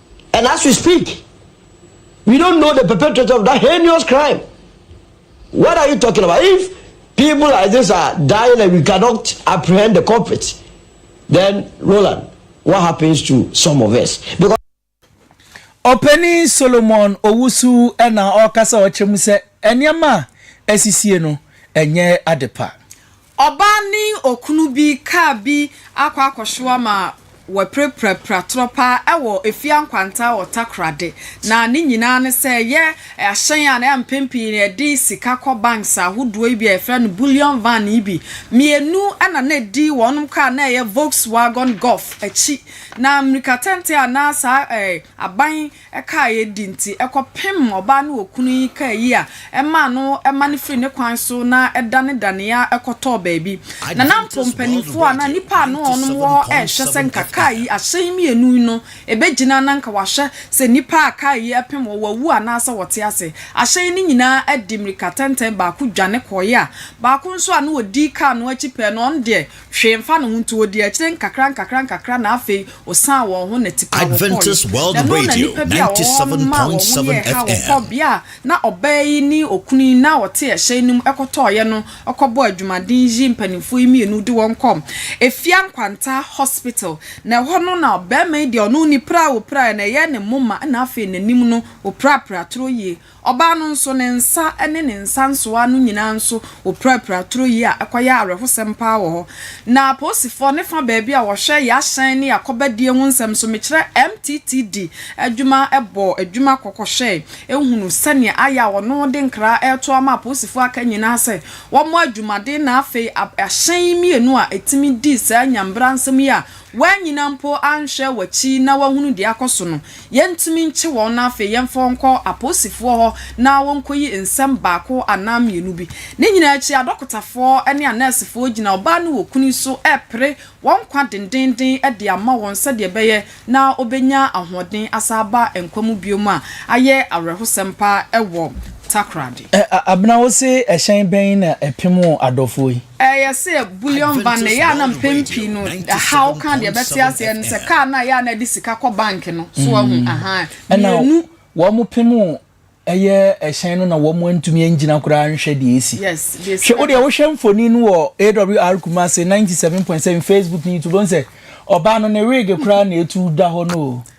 S7: And as we speak, we don't know the perpetrator of that heinous crime. What are you talking about? If people like this are dying and we cannot apprehend the culprit, then Roland, what happens to some of us? Because
S1: Ɔpanin Solomon Owusu na ɔrekasa ɔkyerɛ mu sɛ nneɛma a asisie no ɛnyɛ adepa. Ɔbaa ne
S2: okunu bi kaa bi akɔ akɔhyew ama wɔapirapirapira torɔ pa ara wɔ Efia Nkwanta wɔ Takoradi. Na ne nyinaa ne sɛ ɛyɛ ahyɛn a na mpɛn pii no yɛde sika kɔ banks ahodoɔ yi bi a yɛfrɛ no bullion van yi bi. Mmienu na na ɛdi wɔnom kaa a na ɛyɛ Volkswagon Golf akyi. Na mmirikatɛntɛ a na saa aban ɛkaa a yɛdi nti, ɛkɔpem ɔbaa ne okunu yi kaa yi a ɛmaa no ɛma no firii ne kwan so na ɛdanedaneeɛ kɔtɔɔ baabi. Na na mpo mpanimfoɔ anaa nnipa a na wɔnom wɔ hɔ rehwɛ sɛ nka kaa yi, ahyɛn yi mmienu yi no, ɛbɛgyina na nka wɔahwɛ sɛ nnipa a kaa yi ɛpem wɔn, wɔawu anaasɛ wɔte ase. Ahyɛn yi no nyinaa adi mmirikatɛntɛn, baako dwane kɔeɛ a baako nso a na ɔdi kaa no akyi pɛɛ no, ɔno deɛ, hwee mfa no ho nti wɔdii akyire nkakra nkakra nkakra na afei wɔsaan wɔn ho na tipa wɔkɔɔeɛ. Ɛno na nnipa bi a
S5: wɔwɔ hɔ no maa wɔn ho yɛɛ ha wɔkɔɔ bea a na ɔbaa
S2: yi ne okunu yi no a wɔte ɛhyɛn no mu ɛkɔtɔɔeɛ no kɔbɔɔ adwumaden yi mpaninfoɔ yi mmienu de wɔn kɔɔ Efia Nkwantaa Hospital na ɛhɔ no na barima yi deɛ ɔno ɔnni pira a ɔpiraeɛ no ɛyɛɛ ne moma na afei n'anim no ɔpirapira toro yie Ɔbaa no nso, ne nsa ne ne nsa nsoa no nyinaa nso, wɔpirapira turo yi a ɛkɔyɛ awerɛhosɛm paa wɔ hɔ. Na apolisifoɔ ne fa baabi a wɔhwɛ y'ahyɛn ne y'akɔbadie ho nsɛm nso, mekyerɛ MTTD adwuma bɔɔ adwuma kɔkɔhwɛɛ hunu sɛdeɛ ayɛ a wɔno de nkra reto ama apolisifoɔ a aka nyinaa sɛ wɔmmɔ adwumaden na afei ahyɛn mmienu a ɛtumi di saa nyambra nsɛm yi a Woannyina mpo anhwɛ w'akyi na woahunu deɛ akɔ so no, yɛntumi nkye wɔn na afei yɛmfa wɔn nkɔ apolisifoɔ hɔ na wɔnkɔyi nsɛm baako anaa mmienu bi. Ne nyinaa akyi, adɔkotafoɔ ne anɛɛsefoɔ gyina ɔbaa no wɔ kunu yi so repere wɔn nkwa dendeenden de ama wɔn sɛdeɛ ɛbɛyɛ na ɔbɛnya ahoɔden asan aba nkwa mu bio a ayɛ awerɛhosɛm paa wɔ Takoradi. Abena, wose
S1: ɛhyɛn bɛn na ɛpem wo adɔfoɔ yi? Ɛyɛ sɛ bullion
S2: ba no, ɛyɛ a na mpɛn pii no haw ka deɛ ɛbɛte aseɛ no sɛ kaa no a ɛyɛ a na ɛde sika kɔ bank no so ahu aha mmienu.
S1: Ɛna wɔpem ɛyɛ ɛhyɛn no na wɔantumi angyina koraa anhwɛ deɛ ɛsi. Hwɛ wo deɛ
S2: wohwɛ
S1: mfonin no wɔ AWR Kumasi 97.7 Facebook ne YouTube wohu sɛ ɔbaa no ne wig koraa na ɛtu da hɔ no o.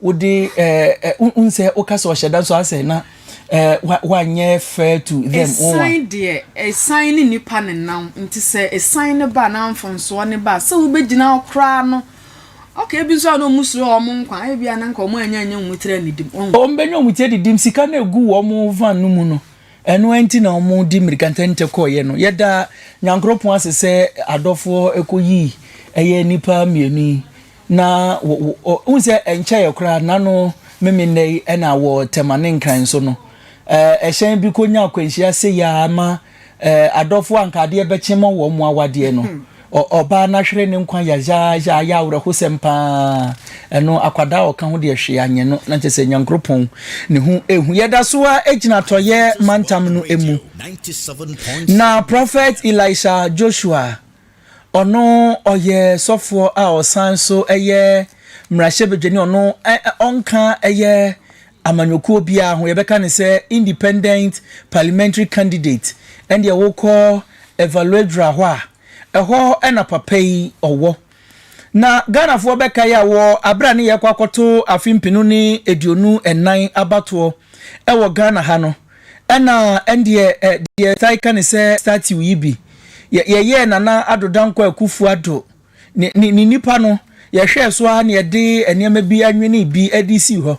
S1: Wode ɛɛ wohu sɛ woka sɛ ɔhyɛ da nso asɛ na ɛɛ wanyɛ fair to them. Ɛsan deɛ
S2: ɛsan ne nipa ne nam nti sɛ ɛsan ne ba na mfonsoɔ ne ba sɛ wobɛgyina hɔ koraa no okay ebi nso a na wɔn suro wɔn nkwa ebi a na nka wɔn anya anya wɔn tiri anidim. Wɔn bɛnya wɔn tiri
S1: adidim sika na egu wɔn van no mu no ɛno ɛnti na wɔn di mirika ntɛntɛ kɔɔyɛ no yɛda nyankoropɔn ase sɛ adɔfoɔ ɛkɔ yii ɛyɛ nipa mmienu yi Na wo, wo, ɔ, wohu sɛ ɛnkyɛeɛ koraa, n'ano meme nnɛ yi, ɛna wɔ Tema ne Nkran so no, ɛɛ, ɛhyɛn bi kɔnya akwanhyia sei ara ma, ɛɛ, adɔfoɔ a anka adeɛ bɛkye ma wɔn awadeɛ no, ɔ, ɔbaa no ahwere ne nkwa yazaaza, ayɛ awerɛhosɛm pa ara. Ɛno, akwadaa a ɔka ho deɛ hwee anyɛ no, na kyerɛ sɛ Nyankoropɔn ne ho hu. Yɛda so ara gyina Atɔeɛ mantam no mu, na Prɔfɛt Elisha Joshua Ɔno ɔyɛ sɔfoɔ a ɔsan nso yɛ mmarahyɛbadwani, ɔno ɔnka yɛ amanyɔkuo biara ho, yɛbɛka no sɛ independent parliamentary candidate, ɛndeɛ wokɔ Evaluadra hɔ a, ɛhɔ na papa yi ɔwɔ. Na Ghanafoɔ bɛkae a wɔ aberɛ a ne yɛrekɔ akɔto afe mpenu ne aduonu nnan abatoɔ wɔ Ghana ha no, Ɛna ɛndeɛ ɛ deɛ yɛtae ka ne sɛ statue yi bi yɛ yɛyɛɛ Nana Addo Dankwa Akuffo Addo ne ne ne nipa no yɛhwɛɛ so ara na yɛde nneɛma bi anwenee bi de sii hɔ.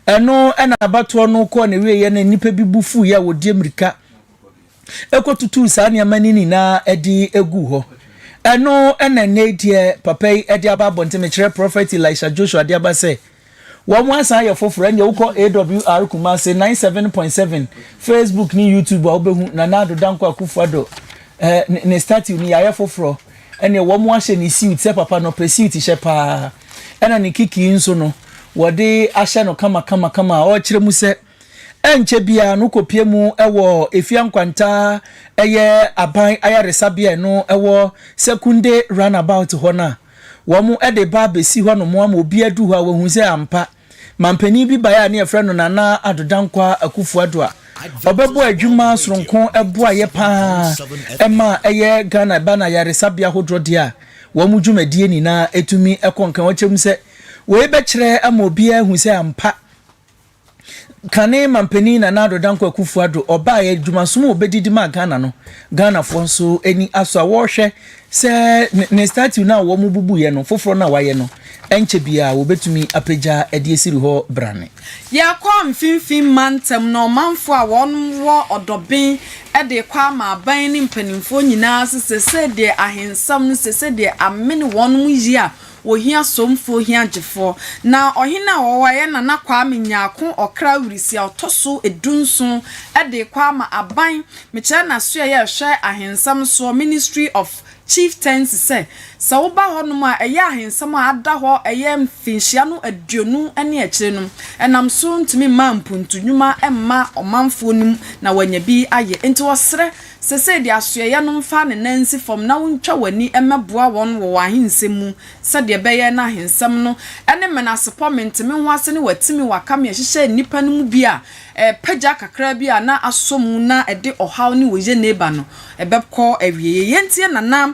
S1: Ɛno ɛna abatoɔ no kɔɔ n'awieɛ na nnipa bi bo fuiɛ a wɔdie mmirika ɛkɔ tutuu saa nneɛma no nyinaa ɛde ɛguu hɔ. Ɛno ɛna ɛnnɛ yi deɛ papa yi ɛde aba abɔnten mekyerɛ Prophet Elisha Joshua de aba sɛ Wɔn asan yɛ foforɔ ɛnneɛ wokɔ AWR Kumasi ninety seven point seven Facebook ne YouTube a wobɛhu Nana Addo Dankwa Akuffo Addo eh, ne statue no yɛayɛ foforɔ ɛnneɛ wɔn ahyɛ ne suit sɛ papa no ɔpɛ suit hyɛ paa ɛna ne kikii nso no wɔde ahyɛ no kama kama kama a ɔrekyerɛ mu sɛ ɛnkyɛ biara no kɔpie mu ɛwɔ efia nkwanta ɛyɛ aban ayaresabea ɛno ɛwɔ Sekunde roundabout hɔ no a wɔde ba abɛsi hɔnom ama obiara du hɔ a wahu sɛ ampa manpanin bi baeɛ a ne yɛfrɛ no Nana Addo Dankwaah Akufo-Addo a ɔbɛbɔɔ adwuma soronko boaeɛ pa ara ma ɛyɛ Ghana ba no ayaresabea ahodoɔ deɛ a wɔn dwumadie nyinaa tumi kɔ nkan. Wɔkyerɛ mu sɛ wei bɛkyerɛ ama obiara ahu sɛ ampa kane manpanin Nana Addo Dankwa Akufo Addo ɔbaeɛ adwumasom a ɔbɛdi de maa Ghana no, Ghanafoɔ nso ani asɔ a wɔrehwɛ sɛ ne statue no a wɔbubuiɛ no foforɔ no a wɔayɛ no ɛnkyɛ biara wɔbɛtumi apagya de asiri hɔ brane. Yɛkɔɔ
S2: Mfinfin Mantam no ɔmanfoɔ a wɔwɔ ɔdɔben de rekɔ ama aban ne mpanimfoɔ nyinaa sɛ sɛdeɛ ahensɛm no sɛ sɛdeɛ amene wɔnom yie a Wɔhia somfoɔ hia gyefoɔ. Na ɔhene a ɔwɔ hɔ a ɛyɛ Nana Kwame Nyarko Ɔkra Wirisi a ɔtɔ so du nson de kɔ ama aban mekyerɛ n'asoɛeɛ a ɛhwɛ ahensɛm soɔ, Ministry of Chieftaincy, sɛ, sɛ woba hɔnom a ɛyɛ ahensɛm a ada hɔ ɛyɛ mfinhyia no aduonu ne akyire no, ɛnam so ntumi mmaa mpuntu nnwuma mma ɔmanfoɔ no mu na wɔanya bi ayɛ. Enti wɔsrɛ. Seesei de asoɛeɛ no mfa ne nan nsi fam na wontwa w'ani mmɛboa wɔn wɔ w'ahensɛm mu, sɛdeɛ ɛbɛyɛ na ahensɛm no ne menasepɔ, mente-me-ho-ase ne w'atimi, w'akame a ɛhyehyɛɛ nnipa no mu bi a ɛrepagya kakra bi a na asɔ mu na ɛde ɔhaw ne oyie reba no, ɛbɛkɔ awieeɛ. Yei enti na na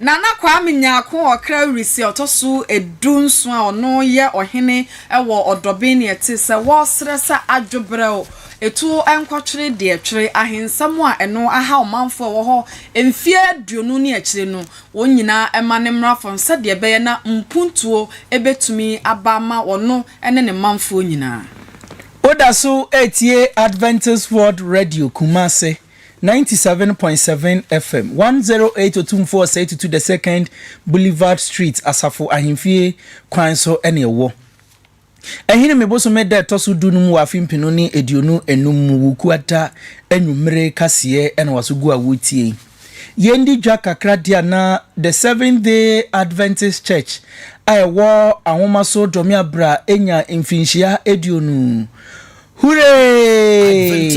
S8: Nana
S2: Kwame Nyarko ɔkra Wirisi a ɔtɔ so du nson a ɔno yɛ ɔhene wɔ Ɔdɔben ne ɛte sɛ wɔresrɛ sɛ adwo brɛw etu nkɔtwere deɛ twere ahensɛm a ɛno ahaw manfoɔ a ɛwɔ hɔ mfeɛ aduonu ne akyire no wɔn nyinaa ma ne mmra fam sɛdeɛ ɛbɛyɛ na mpuntuo bɛtumi aba ama ɔno ne ne manfoɔ nyinaa. Woda so
S1: retie Adventist World Radio Kumasi ninety seven point seven FM, one zero eight Otumfoɔ Osei Tutu the Second Boulevard Street, Asafo Ahemfie kwan so na ɛwɔ. Ahinime bosome da a ɛtɔ so du no mu wɔ afe mpenu ne aduonu anum mu Wukuada anwummere kaseɛ na waso gu a woretie yi. Yɛndi dwa kakra deɛ a na The Seventh Day Adventist Church a ɛwɔ Ahomaso Dɔmeabra nya mfirinhyia aduonu Huree!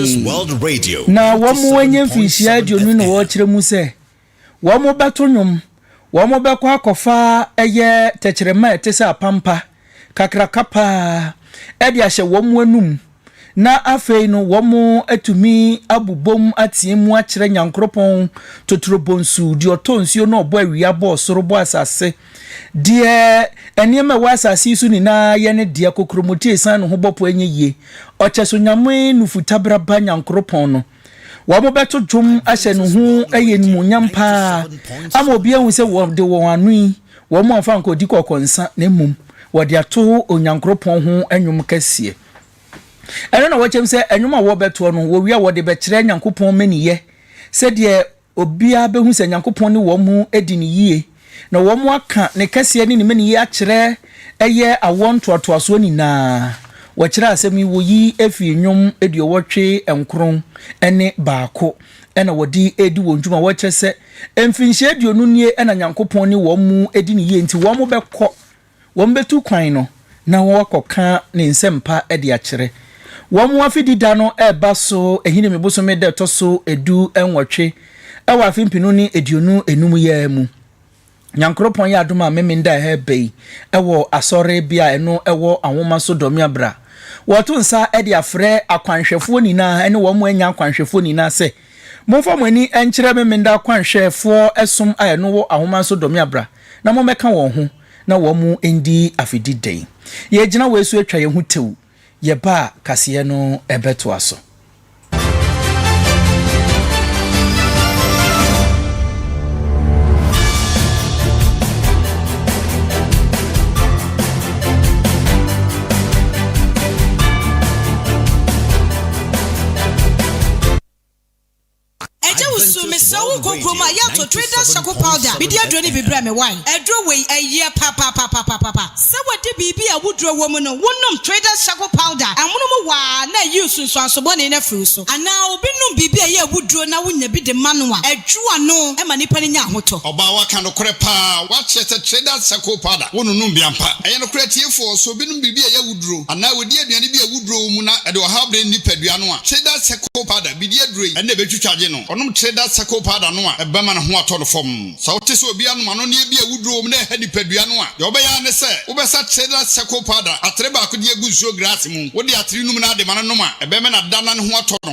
S5: Na wɔanya
S1: mfinhyia aduonu na wɔrekyerɛ mu sɛ wɔbɛto nnwom, wɔbɛkɔ akɔfa ɛyɛ tɛkyerɛma a ɛte sɛ apampa kakraka pa ara de ahyɛ wɔn anom, na afei no wɔatumi abobom ateɛ mu akyerɛ Nyankoropɔn, Totorobonsu, Deɛ ɔtɔ nsuo na ɔbɔ awia, bɔ ɔsoro, bɔ asase. Deɛ nneɛma a ɛwɔ asase yi so nyinaa yɛ ne dea, kokuromoti a ɛsiane ne ho bɔ po ɛnyɛ yie, ɔkyɛso nyame nufu taberaba Nyankoropɔn no. Wɔbɛto dwom ahyɛ ne ho ɛyɛ animuonyam paa, ama obiara ahu sɛ wɔde wɔn ano yi, wɔamfa anka ɔdi kɔkɔ nsa, na mmom wɔde ato Onyankoropɔn ho nnwom kɛseɛ. Ɛno na wɔkyɛm sɛ nnwom a wɔbɛtoɔ no, wɔwie a wɔde bɛkyerɛ Nyankopɔn mmaniyɛ, sɛdeɛ Obiara behu sɛ Nyankopɔn ne wɔn adi no yie, na wɔaka ne kɛseɛ ne ne mmaninneɛ akyerɛ ɛyɛ awoɔ ntoatoasoɔ nyinaa. Wɔkyerɛɛ asɛm yi, wɔyi firi nnwom aduɔwɔtwe nkron ne baako, ɛna wɔde redi wɔn dwuma, wɔkyerɛ sɛ, mfirinhyia aduonu nie na Nyankopɔn ne wɔn adi no yie, nti wɔbɛkɔ. wɔbɛtu kwan no na wɔakɔka ne nsɛmpa de akyerɛ. Wɔn Afedi da no reba so Ahinime bosome da ɛtɔ so du nwɔtwe wɔ afe mpenu ne aduonu enum yi ara mu. Nyankoropɔn yɛ adom a Memen da ɛha ɛba yi wɔ Asɔre bea a ɛno wɔ Anwoma so Dɔmea bra. Wɔreto nsa de afrɛ akwanhwɛfoɔ nyinaa ne wɔn a ɛnyɛ akwanhwɛfoɔ nyinaa sɛ, Momfa mo ani nkyerɛ Memeneda Kwanhwɛfoɔ som a ɛno wɔ ahomanso Dɔ Me Abra na mommɛka wɔn ho na wɔn ndi afedi dɛn? Yɛregyina wei so atwa yɛn ho tew, yɛba a kaseɛ no bɛtoa so.
S9: Agya Wusu, mesrɛ wo nkɔ kurom a, yɛ ato Traders Charcoal Powder. Mede aduro no bi brɛ me wae. Aduro wei, ɛyɛ papapapapapa. Sɛ wode biribi a awuduro wɔ mu no, wonom Traders Charcoal Powder a, ɛmono mu wɔ ara na ayi nsunsuanso bɔne no afiri wo so. Anaa obi nom biribi a ɛyɛ awuduro na wonya bi de ma no a, ɛdwo ano ma nipa no nya ahotɔ. Ɔbaa waka nokorɛ
S6: paa, wakyerɛ sɛ Traders Charcoal Powder, wononom bi ampa. Ɛyɛ nokorɛ atiefoɔ, sɛ obi nom biribi a ɛyɛ awuduro anaa wɔdi aduane bi a awuduro wɔ mu na ɛde ɔhaw brɛ ne nipadua no a, Tridal Circle Powder bedi aduro yi na ebetwitwagye no. Ɔnom Tridal Circle Powder no a, ɛbɛma ne ho atɔ no fam. Sɛ wote sɛ obi anom anonneɛ bi a awuduro wɔ mu na ɛha nipadua no a, deɛ wobɛyɛ ara ne sɛ wobɛsa Tridal Circle Powder atere baako de agu nsuo graase mu. Wode atere no mu no ara de ma no nom a, ɛbɛma no ada na ne ho atɔ no.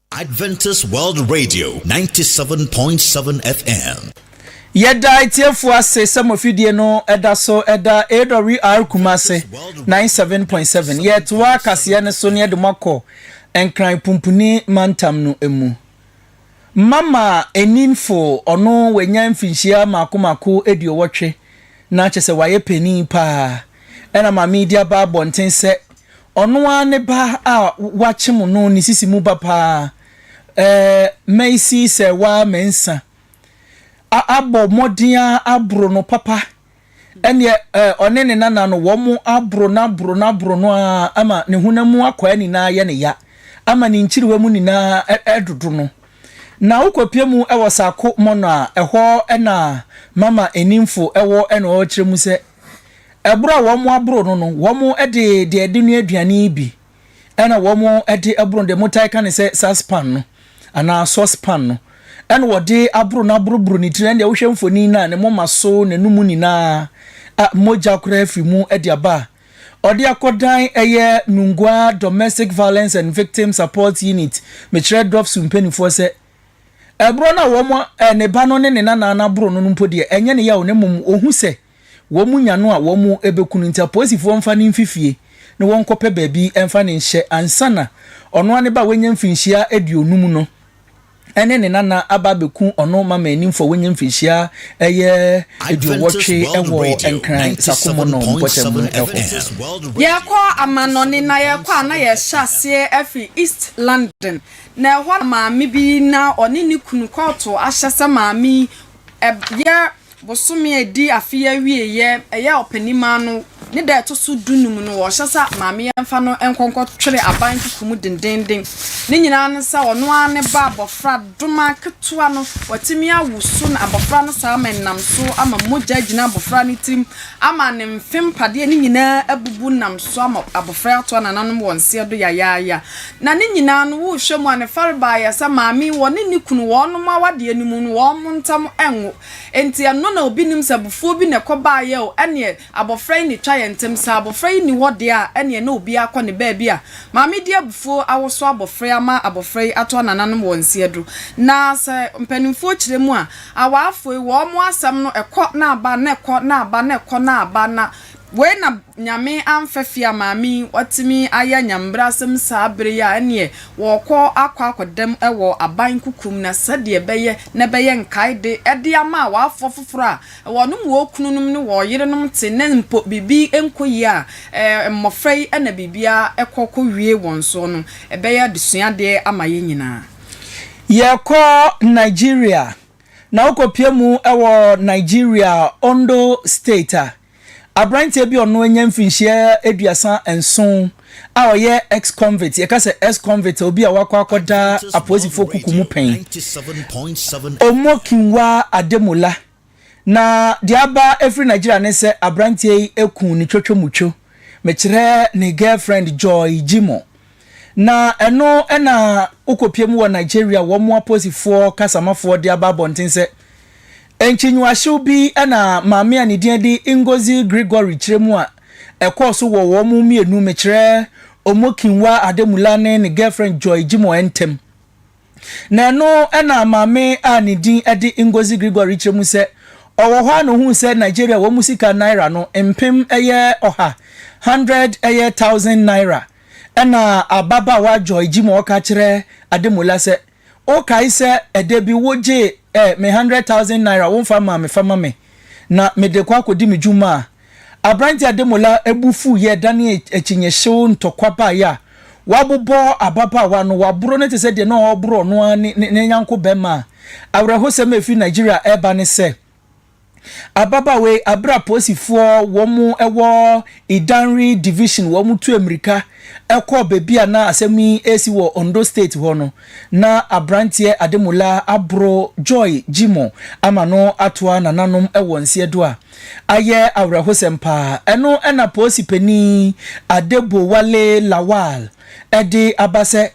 S5: Adventist World Radio, 97.7 FM. Yɛda
S1: atiefo ase sɛ mo afidie no da so da AWR Kumase 97.7. Yɛtoa kaseɛ no so na yɛde mo akɔ Nkran Pumpuni mantam no mu. Mama Eninfo, ɔno wanya mfinhyia mako mako aduowɔtwe na kyɛ sɛ wayɛ panin paa. Ɛna Maame Idi aba abɔnten sɛ Ɔno ara ne ba a wɔakyem no ne sisi mu ba paa, eh, Macy Serwaa Mensah, a abɔ mmɔden ara aboro no papa. Ɛnneɛ, eh, ɔne ne nana no, wɔaboro no aboro no aboro no ara ama ne honam mu akwaa nyinaa ayɛ no ya, ama ne nkyerewa mu nyinaa redodo no. Na wokɔpue mu wɔ Saako Mɔnɔ a, ɛhɔ na Mama Enimfo wɔ na ɔrekyerɛ mu sɛ, Bere a wɔaboro no no, wɔde deɛ ɛde noa aduane bi na wɔde aboro no, deɛ motae ka ne sɛ saspan no anaa sɔspan no, ɛna wɔde aboro no aboroboro ne tiri, ɛndeɛ wohwɛ mfoni no a ne moma so, n'anum nyinaa, a mogya koraa firi mu de aba a, ɔde akɔdan ɛyɛ Nungua Domestic Violence and Victim Support Unit, mekyerɛ DOVS mpanimfoɔ sɛ, Ɛboro no a wɔn, ɛ, ne ba no ne ne nanaa no aboro no no mpo deɛ, ɛnyɛ ne yaw na mmom ɔhu sɛ wɔn nya no a wɔn bɛku no. Nti apolisifoɔ mfa no mfi fie na wɔnkɔpɛ baabi mfa no nhyɛ ansa na ɔno ara ne ba a wanya mfirinhyia aduonum no ne ne nanaa aba abɛku ɔno ma mmaninfoɔ a wanya mfirinhyia ɛyɛ aduowɔtwe wɔ Nkran Sakomono mpɔtam no hɔ.
S2: Yɛrekɔ amannɔne na yɛrekɔ a na yɛhyɛ aseɛ afiri East London Na ɛhɔ na maame bi na ɔne ne kunu kɔɔto ahyɛ sɛ maame yi ɛyɛ bosome a ɛdi afe yi awieɛ, ɛyɛ ɔpanin mma no, ne da a ɛto so du num no, ɔhyɛ sɛ maame yi mfa no nkɔ nkɔ twere aban kuku mu dendeenden. Ne nyinaa ne sɛ ɔno ara ne ba abɔfra doma ketewa no, watumi awo so na abɔfra no saa ama ɛnam so ama mogya agyina abɔfra no tirim ama ne mfe mpadeɛ no nyinaa abubu nam so ama abɔfra yi ato anananom wɔn seɛ do yayaaya. Na ne nyinaa no wo hwɛ mu a ne farebaa yɛ sɛ maame wɔ ne ne kunu wɔnom awadeɛ no mu no wɔnom ntam nwo enti ɛno na obi nim sɛ abufuo bi na ɛkɔ baa yɛ o ɛneɛ abɔfra yi na ɛtwa yɛn ntem sɛ abɔfra yi ni hɔ deɛ a ɛneɛ na obiara kɔ ne baabi a maame de abufuo awoso abɔfra yi ama abɔfra yi ato anananom wɔn nsi aduro na sɛ mpaninfoɔ kyerɛ mu a awaafoɔ yi wɔnom asɛm no ɛkɔ na aba na ɛkɔ na aba na ɛkɔ na aba na Wei na Nyame amfa fie a maame yi watumi ayɛ Nyambrasɛm saa bere yi a ɛneɛ wɔɔkɔ akɔ akɔdam wɔ aban kukum na sɛdeɛ ɛbɛyɛ na ɛbɛyɛ nkaede de ama awaafoɔ foforɔ a wɔnom wɔɔkununom ne wɔɔyerenom te na mpo biribi nkɔ yie a mmɔfra yi na biribiara kɔ kɔ wie wɔn soɔ no ɛbɛyɛ adesuadeɛ ama yɛn nyinaa. Yɛɛkɔ
S1: Nigeria na wokɔ pie mu wɔ Nigeria Ondo state a Aberanteɛ bi a ɔno anya mfirinhyia aduasa nson a ɔyɛ ex-convict, yɛka sɛ ex-convict obi a wakɔ akɔda apolisifoɔ kuku mu pɛn, Omokinwa Ademola, na deɛ aba afiri Nigeria ne sɛ aberanteɛ yi ku ne twotwomutwo, mekyerɛ ne girlfriend Joy Jimoh, Na ɛno na wokɔpia mu wɔ Nigeria a wɔmmoa Posifoɔ kasamafoɔ de aba abɔnten sɛ, Nkyinwahyew bi na maame a ne din de Ngozi Gregory kyerɛ mu a ɛkɔɔ so wɔ wɔn mmienu, mekyerɛ Omokinwa Ademola ne ne girlfriend Joy Jimoh ntam. Na ɛno na maame a ne din de Ngozi Gregory kyerɛ mu sɛ ɔwɔ hɔ ara na ɔhuu sɛ Nigeria wɔn sika naira no mpem ɛyɛ ɔha, hundred ɛyɛ thousand naira, Ɛnna ababaawa Joy gye mu a ɔka kyerɛ Ademola sɛ, Wokae sɛ ɛda bi wogyee ɛ me hundred thousand naira a womfa mmaa me fa ma me, na mede kɔ akɔdi me dwuma a? Aberante Ademola bo fuw yɛɛ danee akyinnye hyew ntɔkwa baeɛ a wabobɔ ababaawa no, waboro no te sɛ deɛ na ɔreboro ɔno ara ne ne yanko barima a. Awerɛhosɛm a ɛfiri Nigeria reba ne sɛ, Ababaawa yi, berɛ a polisifoɔ wɔn wɔ Idanre Division wɔn tuu mmirika kɔɔ baabi a na asɛm yi resi wɔ Ondo State hɔ no, na aberanteɛ Ademola aboro Joy Jimoh ama no atoa nananom wɔ nseɛ do a ayɛ awerɛhosɛm pa ara. Ɛno na polisi panin Adebowale Lawal de aba sɛ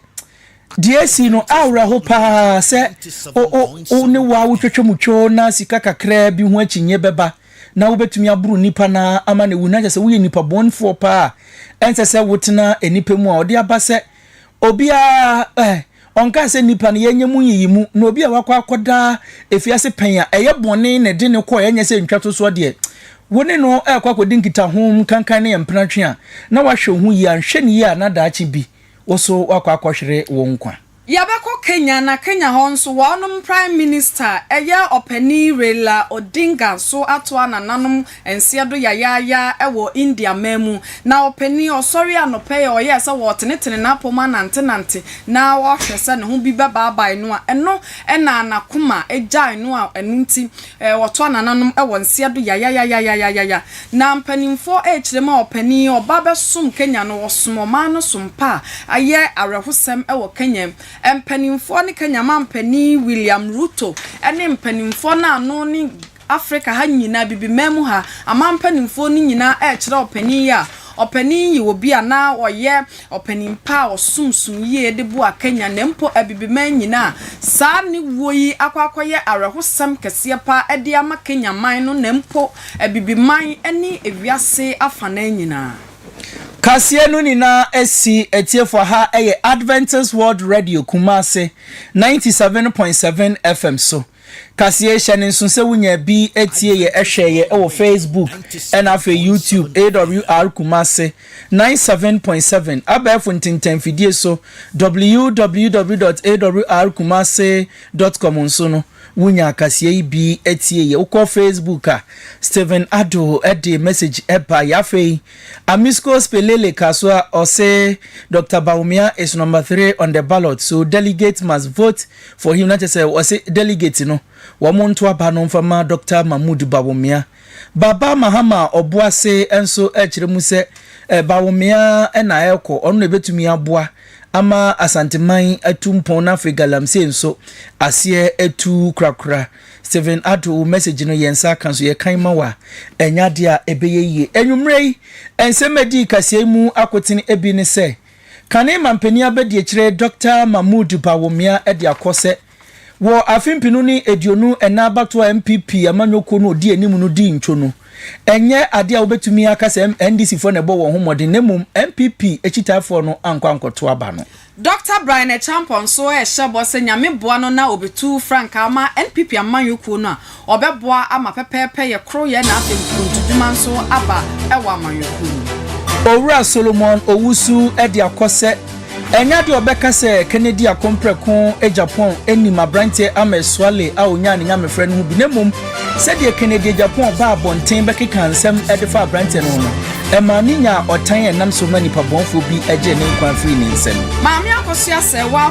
S1: Deɛ asi no awerɛho pa ara sɛ wo wo wo ne wo a wotwatwa mu twoo na sika kakraa bi ho akyinnye bɛba na wobɛtumi aboro nnipa no ara ama no awu na kyerɛ sɛ woyɛ nipa bɔnefoɔ pa ara a ɛnsɛ sɛ wotena nnipa mu a ɔde aba sɛ obiara eh, ɔnkaa sɛ nnipa no yɛnyɛ mu nyiyimu na obi a wakɔ akɔda afiase pɛn a ɛyɛ bɔne na ɛde no kɔɛ ɛnyɛ sɛ ntwatosoɔ deɛ wo ne no rekɔ akɔdi nkitaho nkankan ne ɛmpena twe a na wahwɛ wo ho yie anhwɛ no yie a na daakye bi wo so woakɔ akɔhwere wo nkwa. Yɛbɛkɔ
S2: Kenya na Kenya hɔ nso wɔnom Prime Minista a ɛyɛ ɔpanin Raila Odinga nso atoa nananom nseɛ do yayaaya wɔ India man mu. Na ɔpanin ɔsɔre anɔpa yi a ɔyɛɛ sɛ ɔretenetene n'apɔmu anantenante na ɔrehwɛ sɛ ne ho bi bɛbaabae no a ɛno na n'akoma gyae no a ɛno nti Eh wɔtoa nananom wɔ nseɛ do yayayayayayaya na mpaninfoɔ rekyerɛ mu a ɔpanin ɔba bɛsom Kenya no ɔsom ɔman no so mpa a ayɛ awerɛhosɛm wɔ Kenya mpaninfoɔ ne Kenya manpanin William Ruto ne mpaninfoɔ no ano ne Africa ha nyina abibiman mu ha aman mpaninfoɔ no nyina rekyerɛ ɔpanin yi a ɔpanin yi wɔ bi a na ɔyɛ Ɔpanin pa a ɔsom som yie de boa Kenya na mpo Abibiman nyina a saa ne wuo yi akɔ akɔyɛ awerɛhosɛm kɛseɛ pa ara de ama Kenya man no na mpo Abibiman ne ewiase afanaa nyinaa. Kaseɛ
S1: no nyinaa asi atiefoɔ ha yɛ Adventist World Radio Kumasi ninety seven point seven FM so. Kaseɛ hyɛ no nso sɛ wonya bi tie yɛ hwɛ yɛ wɔ Facebook ɛna afei YouTube AWR Kumasi ninety seven point seven abɛɛfo ntentɛnfidie so www dot awr kumasi dot com nso no wonya kaseɛ yi bi tie yɛ wokɔ Facebook a Stephen Addo de message ɛba yɛ afei Amisco Spelele ka so a ɔse Doctor Bawumia is number three on the ballot so delegate must vote For him na kyerɛ sɛ ɔse delegate no wɔn nto aba no mfa ma Doctor Mahmood Bawumia. Baba Mahama a ɔboa se nso ɛkyerɛ mu sɛ Bawumia na ɛrekɔ, ɔno na ɛbɛtumi aboa ama Asanteman atu mpɔn na afei Galamsey nso aseɛ atu korakora. Stephen Addo wo message no yɛn nsa aka nso yɛkan ma wo a ɛnyɛ adeɛ a ɛbɛyɛ yie. Anwummerɛ yi nsɛm a ɛdii kaseɛ yi mu akotene bi ne sɛ, Kane Mampanin Abadiakyire Dɔkta Mahmood Bawumia de akɔ sɛ wɔ afe mpenu ne aduonu ɛnan abatoɔ a NPP amanyɔkuo no a ɔdi anim no dii ntwo no, ɛnyɛ adeɛ a wobɛtumi aka sɛ NDCfoɔ na ɛbɔ wɔn ho mmɔden na mmom NPP akyitaafoɔ no ankɔ ankɔto aba no. Dɔkta Brian
S2: Acheampong nso rehyɛ bɔ sɛ Nyame boa no na ɔbɛtu frankaa ama NPP amanyɔkuo no a Ɔbɛboa ama pɛpɛɛpɛyɛ, koroyɛ na afei nkuruntudwuma nso aba wɔ amanyɔkuo no mu. Owura Solomon
S1: Owusu de akɔ sɛ, Ɛnyɛ adeɛ a wɔbɛka sɛ Kennedy Akompreko Agyapong nim aberanteɛ Ama Asuale a ɔnyaa ne nyamefrɛ no ho bi na mmom sɛdeɛ Kennedy Agyapong baa abɔnten bɛkekaa nsɛm de faa aberanteɛ no ho no, ɛmaa no nyaa ɔtan a ɛnam so ma nnipa bɔnfoɔ bi gyee ne nkwa firii ne nsam. Maame Akosua
S2: Serwaa.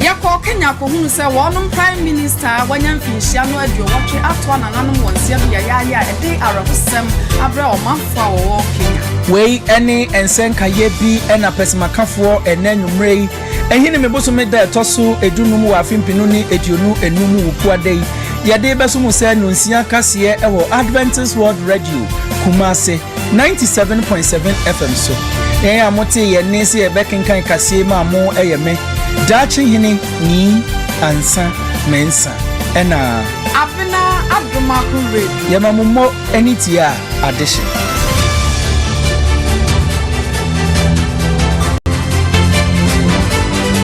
S1: Yɛkɔɔ Kenya
S2: kɔhunu sɛ wɔnom Prime Minister a wanya mfinhyia no aduowɔtwe atoa nananom wɔ nsia bi a yɛayɛ a ɛde awerɛhosɛm abrɛ ɔmanfoɔ a wɔwɔ Kenya. Wei ne
S1: nsɛnkaeɛ bi na pɛsɛmakafoɔ ɛnnɛ anwummerɛ yi Ɛhene me bosome da ɛtɔ so edu num wɔ afe mpenu ne aduonu enum mu Wukuada yi yɛde bɛso mu sɛ Nonsia kaseɛ wɔ Adventist World Radio Kumase. Ninety seven point seven FM so yɛn a mo tee yɛn nne sɛ yɛbɛ kenkan kaseɛ yi maa mo ɛyɛ me Daakye Hene Nii Ansa Mensa ɛna Abena
S2: Adomaho
S1: Radio. Yɛma
S2: mo mo
S1: ani tie a
S2: adehye.